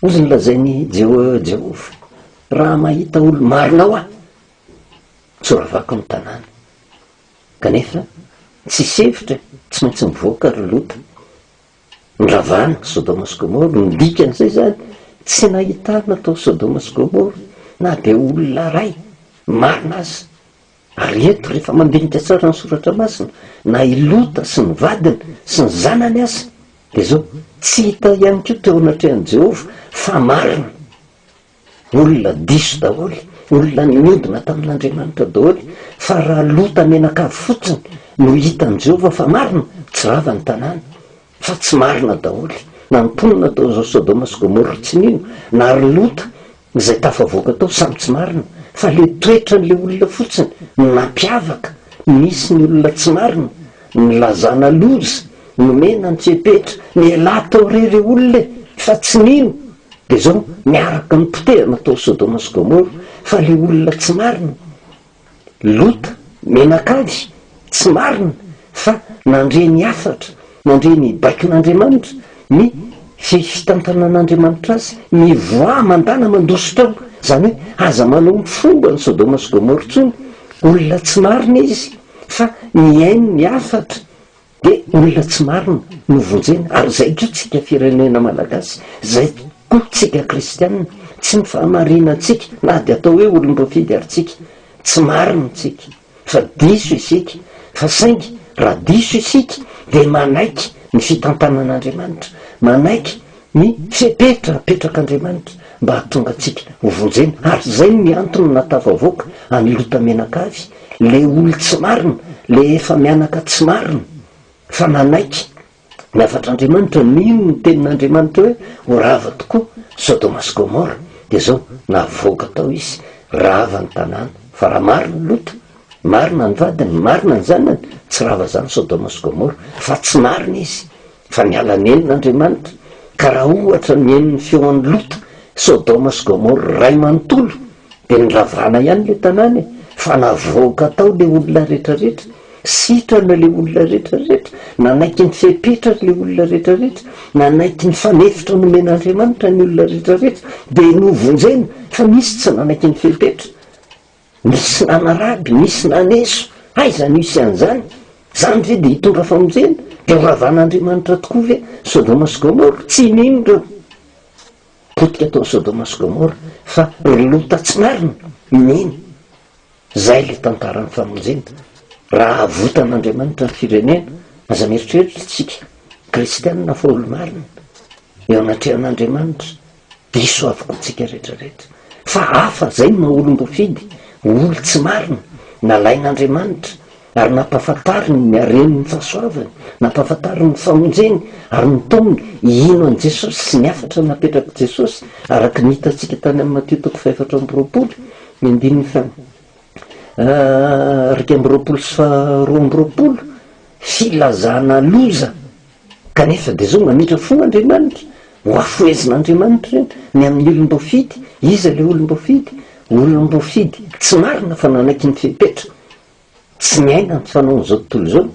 Hozy nolazain'i Jehovah, Raha mahita olo-marina aho, tsy horavako ny tanàna. Kanefa tsisy hevitra e, tsy maintsy nivoaka ry Lota. Ny ravan'i Sodoma sy Gomora no midika an'izay izany. Tsy nahitana tao Sodoma sy Gomora na dia olona iray marina aza. Ary eto, rehefa mandinika tsara ny Soratra Masina, na i Lota sy ny vadiny sy ny zanany aza, dia izao, Tsy hita ihany koa teo anatrehan'i Jehovah fa marina. Olona diso daholo, olona niodina tamin'Andriamanitra daholo, fa raha lota menakavy fotsiny no hitan'i Jehovah fa marina, tsy rava ny tanàna. Fa tsy marina daholo. Na ny mponina tao Sodoma sy Gomora tsy nino, na ry Lota, izay tafavoaka tao, samy tsy marina. Fa ilay toetran'ilay olona fotsiny no nampiavaka. Misy ny olona tsy marina, nilazana loza Nomena antsepetra ny elah tao re le olona e fa tsy nino de zao miaraka mipotehana tao sodoma sy gomoro fa le olona tsy marina lota menakavy tsy marina fa nandre ny hafatra nandre ny baikon'andriamanitra ny fitantanan'andriamanitra azy mivoaha mandana mandositra ao zany hoe aza manao ny fomba ny sodoma sy gomoro tsony olona tsy marina izy fa mihaino ny hafatra Dia olona tsy marina no vonjena ary zay ko tsika firenena malagasy, zay ko tsika kristianina, tsy ny fahamarina tsika na dia atao hoe olom-boafidy ary tsika, tsy marina tsika fa diso isika fa saingy raha diso isika dia manaiky ny fitantanan'Andriamanitra, manaiky Ny fepetra apetrak'Andriamanitra mba hahatonga antsika ho vonjena. Ary izay no ny antony nahatafavoaka an'i Lota mianakavy, le olo tsy marina, le efa mianaka tsy marina, fa nanaiky ny hafatr'Andriamanitra, nino ny tenin'Andriamanitra hoe ho rava tokoa Sodoma sy Gomora, dia izao, navoaka tao izy, rava ny tanàna. Fa raha marina i Lota, marina ny vadiny, marina ny zanany, tsy rava izany Sodoma sy Gomora, fa tsy marina izy, Fa niala nenina Andriamanitra, ka raha ohatra nihaino ny feon'i Lota, Sodoma sy Gomora iray manontolo, dia niravana ihany ilay tanàna e! Fa navoaka tao ilay olona rehetrarehetra, sitrana ilay olona rehetrarehetra, nanaiky ny fepetra ary ilay olona rehetrarehetra, nanaiky ny fanefitra nomen'Andriamanitra ny olona rehetrarehetra, dia novonjena, fa nisy tsy nanaiky ny fepetra. Nisy nanaraby, nisy naneso, aiza no hisy an'izany? Izany ve dia hitondra famonjena? Dia ho ravan'Andriamanitra tokoa ve Sodoma sy Gomora? Tsy nino ireo potika tao Sodoma sy Gomora fa ry Lota tsy marina no nino. Izay ilay tantaran'ny famonjena. Raha havotan'Andriamanitra ny firenena, aza mieritreritra isika kristiana fa olo-marina eo anatrehan'Andriamanitra, Diso avokoa tsika rehetra rehetra fa hafa zay ny maha olombofidy, olo tsy marina, nalain Andriamanitra ary nampafantariny ny hareny ny fahasoavany, nampafantariny ny famonjeny ary ny ntominy, hino an'i Jesosy sy ny hafatra napetrak'i Jesosy araka ny hitantsika tany amin'ny Matio toko fahefatra amby roapolo ny andininy faha iraika amby roapolo sy faha roa amby roapolo, filazana loza Kanefa dia izao mametra fo Andriamanitra, hohafohezin'Andriamanitra ireny, ny amin'ny olom-boafidy, iza ilay olom-boafidy? Olom-boafidy tsy marina fa nanaiky ny fepetra, tsy niaina ny fanaon'izao tontolo izao,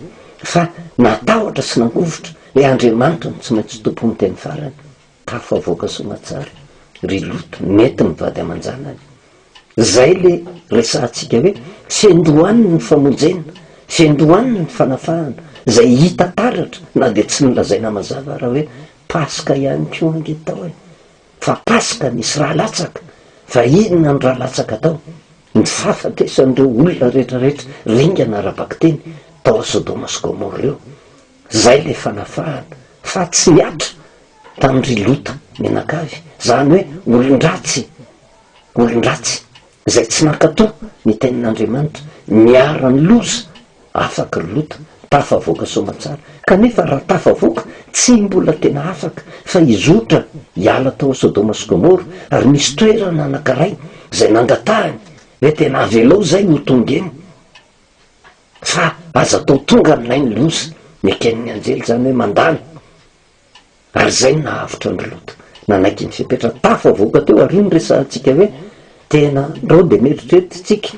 fa natahotra sy nangovitra hoe Andriamanitra no tsy maintsy Tompon'ny teny farany. Tafavoaka soa aman-tsara ry Loto nety ny vady aman-janany. Izay ilay resahantsika hoe fendo any ny famonjena, fendo any ny fanafahana, izay hita taratra na dia tsy nolazaina mazava ara hoe Paska ihany koa ange tao e! Fa Paska nisy rà latsaka, fa inona ny rà latsaka tao? Ny fahafatesan'ireo olona rehetrarehetra ringana ara-bakiteny tao Sodoma sy Gomora ireo. Zay le fanafahana fa tsy niatra tamin ry lota mianakavy zany hoe olondratsy olondratsy zay tsy nankato ny tenin Andriamanitra niara ny loza afaka ry lota tafavoaka soamatsara kanefa raha tafavoaka tsy mbola tena afaka fa hizotra hiala tao sodoma sy gomora ary misy toerana anankaray zay nangatahany hoe tena avelao zay ho tonga eny Fa aza atao tonga aminay ny loza, neken'ny anjely izany hoe mandalo. Ary izay no nahavotra an-dry Lota. Nanaiky ny fepetra tafavoaka teo àry ny resahantsika hoe tena andao dia mieritreritra isika.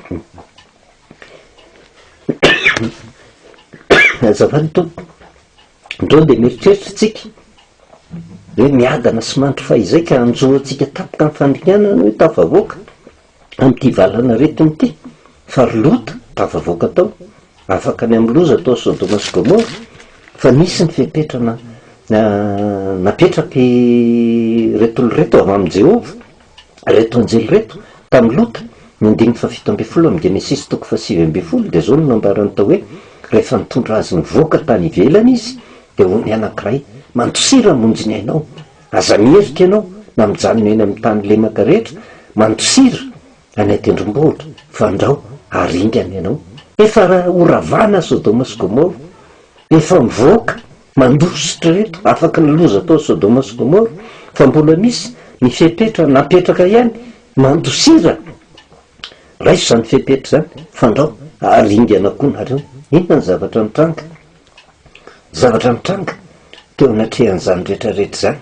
Azafady Tompo, andao dia mieritreritra isika hoe miadana sy mandry fahizay ka hanjo antsika tapaka amin'ny fandringanana hoe tafavoaka. amin'ity valan'aretiny ity, fa ry Lota tafavoaka tao, afaka ny amin'ny loza tao Sodoma sy Gomora, fa nisy ny fepetra na, na, napetrakireto olona ireto avy amin'i Jehovah, ireto anjely ireto, tamin'i Lota. Ny andininy fahafito ambin'ny folo amin'ny Genesisy toko fahasivy ambin'ny folo dia izao no nambarany tao hoe, Rehefa nitondra azy nivoaka tany ivelany izy, dia hoy ny anankiray, Mandosira hamonjy ny ainao, Aza mihevitra ianao na mijanona eny amin'ny tany lemaka rehetra mandosira any an-tendrombohitra, fandrao ary ingana ianao. Efa horavana Sodoma sy Gomora, efa mivoaka mandositra ireto afaky ny loza tao Sodoma sy Gomora, fa mbola misy ny fepetra napetraka ihany mandosira. Raiso izany fepetra izany, fandrao ary ingana koa nareo. Inona ny zavatra nitranga? Zavatra nitranga teo anatrehan'izany rehetrarehetra izany,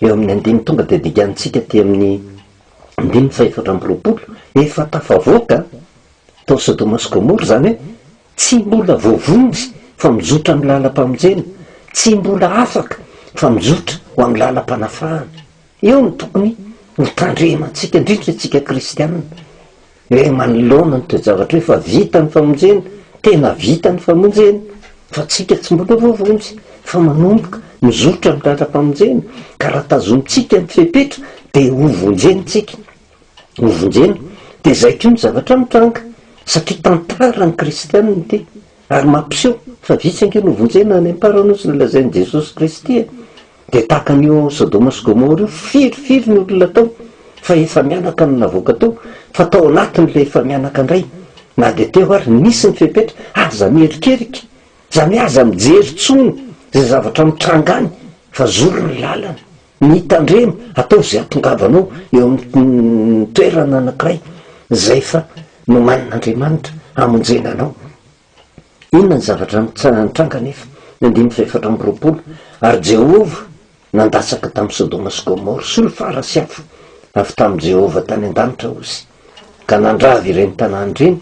eo amin'ny andininy tonga dia dikantsika aty amin'ny andininy fahefatra amby roapolo, efa tafavoaka tao Sodoma sy Gomora, izany hoe tsy mbola voavonjy fa mizotra amin'ny lalam-pamonjena, tsy mbola afaka fa mizotra ho amin'ny lalam-panafahana. Eo no tokony hotandremantsika, indrindra isika kristiana. Hoe manoloana ny toe-javatra hoe fa vita ny famonjena, tena vita ny famonjena, fa tsika tsy mbola voavonjy, fa manomboka mizotra ny lalam-pamonjena, ka raha tazomintsika ny fepetra dia ho vonjena tsika, ho vonjena, dia izay koa ny zavatra mitranga, satria tantara ny kristiana ity, ary mampiseho fa vitsy ange no vonjena any am-para noho izay lazain'i Jesosy Kristy e! Dia tahaka an'io ao Sodoma sy Gomora io, firy firy ny olona tao fa efa-mianaka no navoaka tao, fa tao anatiny ilay efa-mianaka indray, na dia teo ary, nisy ny fepetra, aza mierikerika, izany hoe aza mijery intsony izay zavatra mitranga any, fa zoro ny lalana, mitandrema, ataovy izay hahatongavanao eo amin'ny toerana anankiray izay efa nomanin'Andriamanitra hamonjena anao. Inona ny zavatra nitranga anefa ny andininy fahefatra amby roapolo, Ary Jehovah nandatsaka tamin'i Sodoma sy Gomora, solifara sy afo, avy tamin'i Jehovah tany an-danitra, hozy, ka nandrava ireny tanàna ireny,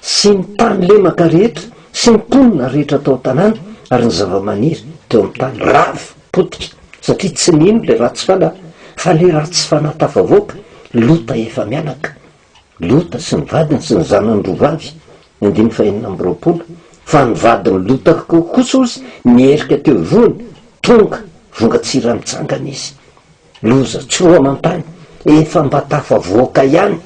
sy ny tany lemaka rehetra, sy ny mponina rehetra tao an-tanàna, ary ny zavamaniry teo amin'ny tany rava, potika, satria tsy nino ilay ratsy fanahy, fa ilay ratsy fanahy tafavoaka, Lota efa-mianaka. Lota sy ny vadiny sy ny zanany roa vavy, andininy fahenina amby roapolo, fa ny vadin'i Lota kosa ozy niherika teo ivohony, tonga, vonga tsy raha mitsangana izy. Loza tsy roa aman-tany, efa mba tafavoaka ihany,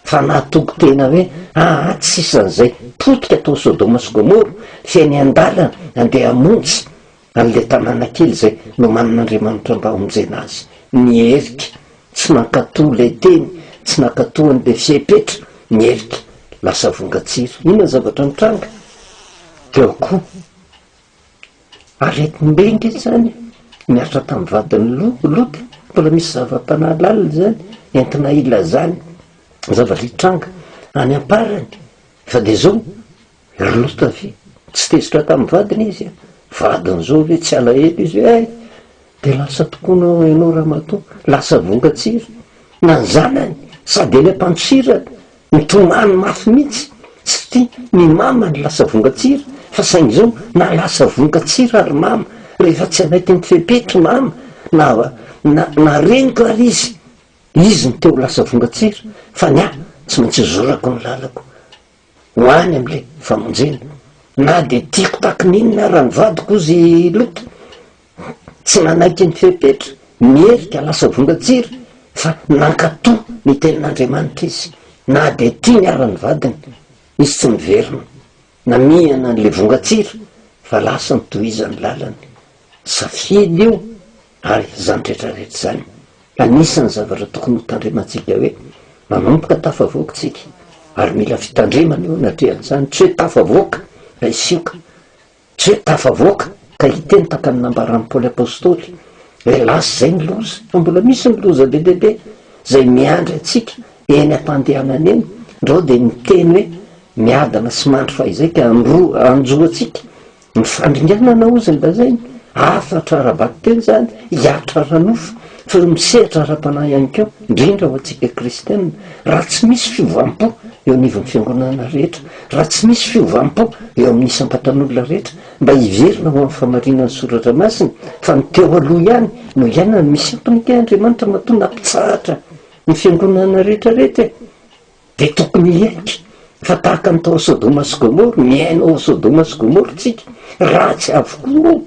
fa nahatoky tena hoe, aa tsy sisan'izay, potika tao Sodoma sy Gomora, feno an-dalana, andeha hamonjy, An'ilay tanàna kely izay nomanin'Andriamanitra mba hamonjena azy. Ny erika. Tsy nankatò ilay teny, tsy nankatò an'ilay fepetra, ny erika. Lasa vongan-tsira. Inona ny zavatra nitranga? Teo akoho. Aretim-benga izany. Niaritra tamin'ny vadin'i Lota. Mbola misy zava-panahy lalina izany, entina hilazana ny zavatra hitranga any am-parany. Fa dia izao. Ry Lota ve tsy tezitra tamin'ny vadiny izy a? Vadin'izao ve tsy alahelo izy hoe hay! Dia lasa tokony ho ianao ramatoa, lasa vongan-tsira. Na ny zanany, sady ilay mpandosirana, mitomany mafy mihitsy, tsy tia ny mamany lasa vongan-tsira, fa saingy izao na lasa vongan-tsira ry mama, rehefa tsy anay teny fepetra i mama, na, na, na reniko ary izy, izy no te ho lasa vongan-tsira, fa ny ahy tsy maintsy zorako ny lalako. Ho any amin'ilay famonjena. Na dia tiako taky ny inona ara ny vadiko hozy i Lota, tsy nanaiky ny fepetra, nierika lasa vongan-tsiry, fa nankato ny tenin'Andriamanitra izy. Na dia tiany ara ny vadiny, izy tsy niverina. Namihana an'ilay vongan-tsiry, fa lasa nitohizany lalany. Safidy io, ary izany rehetra rehetra izany. Anisan'ny zavatra tokony hotandremantsika hoe manomboka tafavoaka isika ary mila fitandremana eo anatrehan'izany, tsy hoe tafavoaka ka hisioka, tsy hoe tafavoaka ka hiteny tahaka ny nambaran'i Paoly Apostoly hoe lasa izay ny loza, fa mbola misy ny loza be dia be izay miandry antsika eny am-pandehanana eny, ndrao dia miteny hoe miadana sy mandry fahizay ka hanjo antsika. Ny fandringanana hozy ny lazainy, hafatra ara-batoteny izany, hihatra ara-nofo, fa eo amin'ny sehatra ara-panahy ihany koa, indrindra ho antsika kristiana. Raha tsy misy fiovam-po eo anivon'ny fiangonana rehetra, raha tsy misy fiovam-po eo amin'ny isam-batan'olona rehetra, mba hiverina ho amin'ny famarinan'ny Soratra Masina fa ny teo aloha ihany no iainana, misy antony kay Andriamanitra matoa nampitsahatra ny fiangonana rehetra rehetra e! Dia tokony hiaiky fa tahaka ny tao Sodoma sy Gomora, miaina ao Sodoma sy Gomora tsika, ratsy avokoa no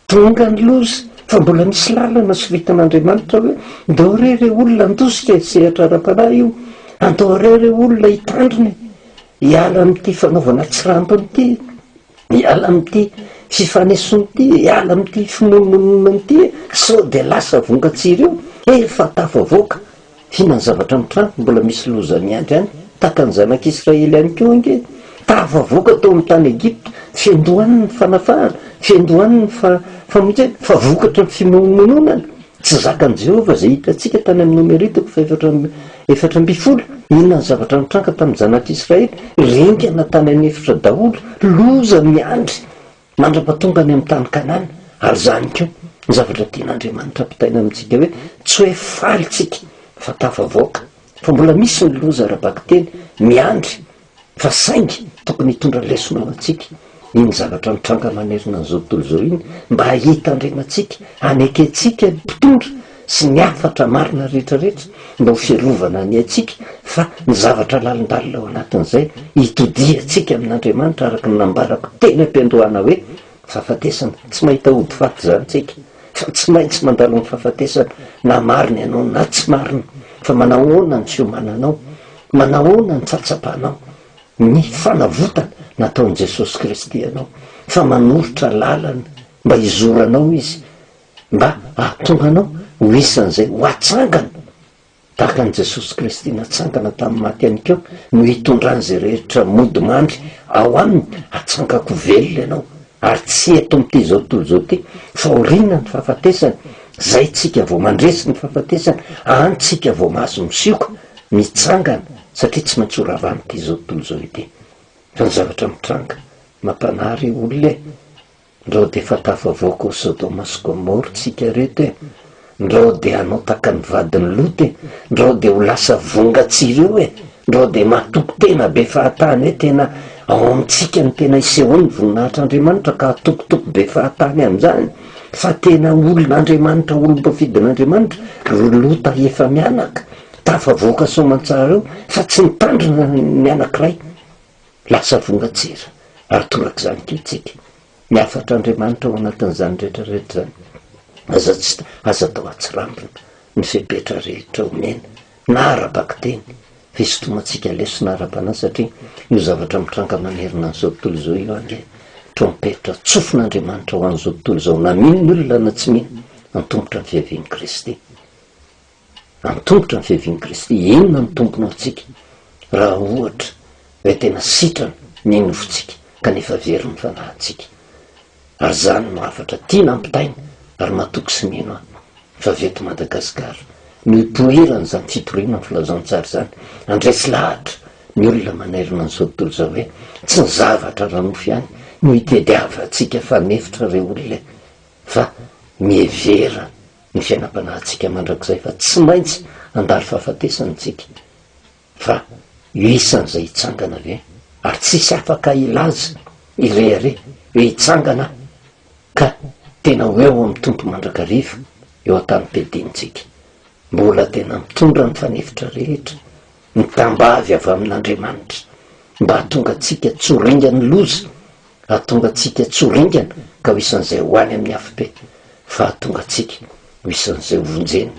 tonga ny loza, fa mbola misy lalana sovitan'Andriamanitra hoe, ndao re re olona handositra e, sehatra ara-panahy io, andao re re olona hitandrina e, hiala amin'ity fanaovana tsy rambony ity e. Miala amin'ity fifanesoana ity, hiala amin'ity fimonomononana ity e! Sao dia lasa vongan-tsiry eo, efa tafavoaka, hihinan'ny zavatra amin'ny trano, mbola misy loza miandry any, tahaka ny zanak'Israely ihany koa ange, tafavoaka tao amin'ny tany Egypta, fiandohan'ny fanafahana, fiandohan'ny fa, famonjena, fa vokatry ny fimonomononana. Tsy zakan'i Jehovah izay hitantsika tany amin'ny Nomerito fa efatra amby efatra ambin'ny folo. Inona ny zavatra nitranga tamin'ny zanak'Israely? Ringana tany an'efitra daholo. Loza miandry mandrapa tonga any amin'ny tany Kanana. Ary izany koa ny zavatra tian'Andriamanitra ampitaina amintsika hoe tsy hoe faly tsika fa tafavoaka fa mbola misy ny loza ara-bakiteny miandry fa saingy tokony hitondra lesona ho antsika iny zavatra nitranga manerana an'izao tontolo izao iny mba hitandremantsika, hanekentsika ny mpitondra sy ny hafatra marina rehetra rehetra mba ho fiarovana ny aintsika fa ny zavatra lalindalina ao anatin'izay hitodihantsika amin'Andriamanitra araka ny nambarako teny am-piandohana hoe fahafatesana, tsy mahita hody faty izany tsika fa tsy maintsy mandalo amin'ny fahafatesana na marina ianao na tsy marina, fa manahoana ny fiomananao Manahoana ny tsatsapanao ny fanavotana nataon'i Jesosy Kristy anao, fa manoritra lalana mba hizoranao Izy, mba hahatonga anao ho isan'izay ho atsangana, tahaka an'i Jesosy Kristy natsangana tamin'ny maty ihany koa no hitondran'izay rehetra mody mandry ao Aminy, hatsangako velona ianao, ary tsy eto amin'ity izao tontolo izao ity, fa aoriana ny fahafatesana, zay tsika vao mandresy ny fahafatesana, any tsika vao mahazo misioka. Mitsangana satria tsy maintsy ho ravahan'ity izao tontolo izao ity. Fa ny zavatra mitranga, mampanahy re olona e! Ndrao dia fantafavoaka ho Sodoma sy Gomora tsika reto e! Ndrao dia hanao tahaka ny vadin'i Lota e! Ndrao dia ho lasa vonga tsy ireo e! Ndrao dia matoky tena be fahatany hoe tena ao amintsika no tena isehoan'ny voninahitr'Andriamanitra ka hatokotoko be fahatany amin'izany fa tena olon'Andriamanitra olom-boafidin'Andriamanitra ry Lota efa mianaka Tafavoaka soamantsara eo fa tsy nitandrina ny anankiray, lasa vongan-tsira ary torak'izany koa isika. Ny hafatr'Andriamanitra ao anatin'izany rehetra rehetra izany. Aza tsy aza atao atsirambina ny fepetra rehetra omena na ara-bakiteny, fisintomantsika lesona ara-panahy satria io zavatra mitranga manerana an'izao tontolo izao io ange trompetra tsofin'Andriamanitra ho an'izao tontolo izao na mino ny olona na tsy mino antomotra ny fiavian'i Kristy. Antomotra ny fiavian'i Kristy. Inona no tombony ho antsika raha ohatra hoe tena sitrana ny nofontsika kanefa very ny fanahintsika? Ary izany no hafatra tiana ampitaina ary matoky sy mino aho fa avy eto Madagasikara no hipoiran'izany fitoriana ny filazantsara izany. Handresy lahatra ny olona manerana an'izao tontolo izao hoe tsy ny zavatra ara-nofo ihany no hitediavantsika fa mihevitra ireo olona e! fa mihevera ny fiainam-panahintsika mandrakizay fa tsy maintsy handalo fahafatesana isika, fa io isan'izay hitsangana ve? Ary tsy hisy afaka hilaza irehareh hoe hitsangana aho ka tena ho eo amin'ny Tompo mandrakariva eo an-tanim-piadiantsika. Mbola tena mitondra ny fanefitra rehetra Mitambavy avy amin'Andriamanitra mba hahatonga antsika tsy ho ringan'ny loza, hahatonga antsika tsy ho ringana ka ho isan'izay ho any amin'ny afobe, fa hahatonga antsika ho isan'izay ho vonjena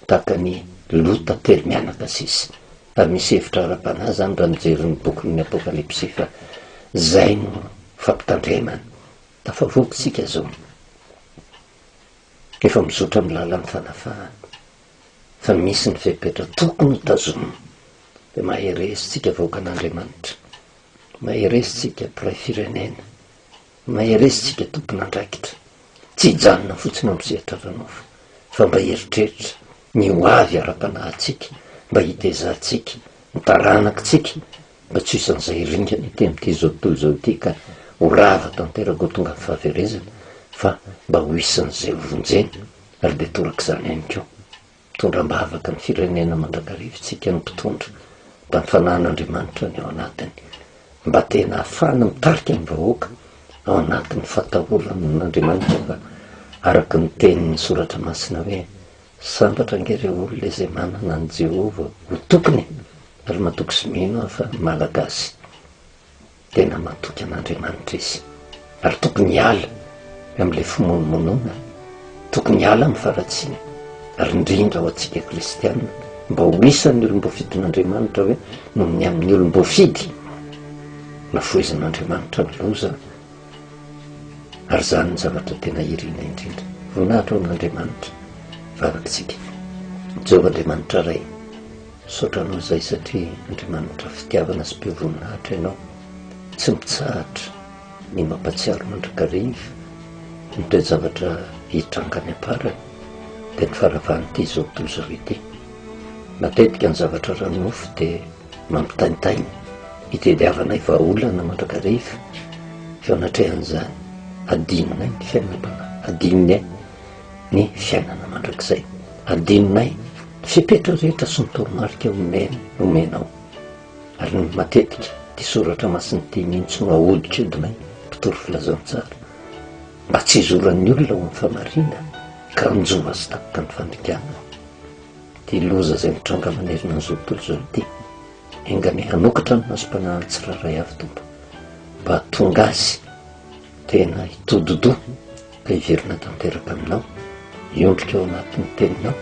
tahaka an'i Lota telo mianaka sisa. Ary misy hevitra ara-panahy izany raha mijery ny bokin'ny Apokalypsy fa izay no fampitandremana. Tafavoaka isika izao, efa mizotra amin'ny lalan'ny fanafahana. fa misy ny fepetra tokony ho tazomina dia mahereza tsika vahoakan' Andriamanitra, mahereza tsika mpiray firenena, mahereza tsika tompon' andraikitra, tsy hijanona fotsiny amin'ny sehatra ara nofo fa mba hieritreritra ny ho avy ara panahintsika mba hitezantsika ny taranak tsika mba tsy ho isan'izay ringana ety amin' ity zao tontolo izao ity ka ho rava tanteraka ho tonga amin'ny fahaverezana fa mba ho isan'izay ho vonjena Ary dia toraka izany ihany koa. Mitondra am-bavaka ny firenena mandrakariva isika ny mpitondra mba ny fanahin'Andriamanitra ny ao anatiny, mba tena ahafahana mitarika ny vahoaka ao anatin'ny fatahoran'Andriamanitra fa araka ny tenin'ny soratra masina hoe, Sambatra ange ireo olona izay manana an'i Jehovah ho tokiny e! Ary matoky sy mino aho fa Malagasy. Tena matoky an'Andriamanitra izy ary tokony hiala amin'ilay fimonomonona, tokony hiala amin'ny faharatsiana ary indrindra ho antsika kristiana mba ho isan'ny olom-boafidin'Andriamanitra hoe noho ny amin'ny olom-boafidy nafohezan'Andriamanitra ny loza ary izany ny zavatra tena irina indrindra. Voninahitra ho an'Andriamanitra, vavakitsika. Jehovah Andriamanitra Ray. Misaotra anao zay satria Andriamanitra fitiavana sy be voninahitra ianao tsy mitsahatra ny mampatsiaro mandrakariva ny toe-javatra hitranga any am-parany dia ny faravan'ity zao doza ity. Matetika ny zavatra ara-nofo dia mampitaintaina hitediavanay vahaolana mandrakariva, eo anatrehan'izany hadinonay ny fiainam-panahy, hadinony e! ny fiainana mandrakizay. Adinonay ny fepetra rehetra sy ny toromarika omeny omenao. Ary ny matetika ity soratra masina ity mihitsy no ahodinkodinay mpitory filazantsara mba tsy hizoran'ny olona ho amin'ny famarinana ka hanjo azy tapitra ny fandikanana. Ity loza izay mitranga manerana an'izao tontolo izao ity. Enganie hanokatra ny masom-panahiny tsirairay avy Tompo mba hahatonga azy tena hitododoa Hiverina tanteraka aminao, hiondrika ao anatin'ny teninao,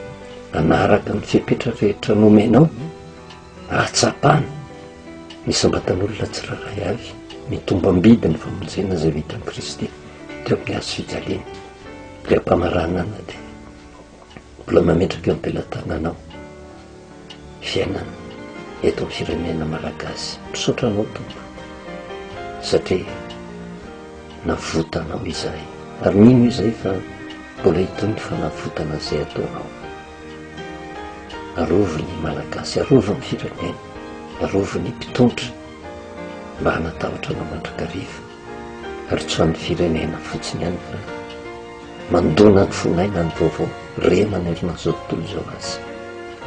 hanaraka ny fepetra rehetra nomenao, hahatsapana ny sambatan'olona tsirairay avy, ny tombam-bidy ny famonjena izay vitan'i Kristy teo amin'ny hazo fijaliana. Ilay mpamaranana dia mbola mametraka eo am-pelatananao fiainana eto amin'ny firenena malagasy. Misaotra anao tompo satria navotanao izahay ary mino izay fa mbola hitoy ny fanavotana izay ataonao. Arovy ny malagasy, arovy ny firenena, arovy ny mpitondra mba hanatahotra anao mandrakariva. Ary tsy amin'ny firenena fotsiny ihany fa mandona ny fon'aina ny vaovao re manerana an'izao tontolo izao aza.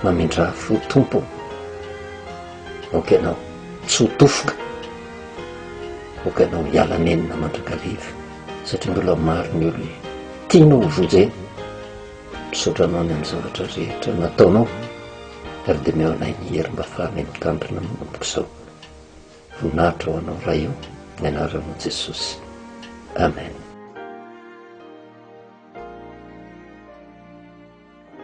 Mamindrà fo Tompo aoka ianao tsy ho tofoka, aoka ianao hiala nenina mandrakariva satria mbola maro ny olona tianao ho vonjena. Misaotra anao ny amin'ny zavatra rehetra nataonao ary dia mihaona ahy ny hery mba hafahana mitandrina manomboka izao. Voninahitra ho anao Ray o, ny anaranao Jesosy. Amen.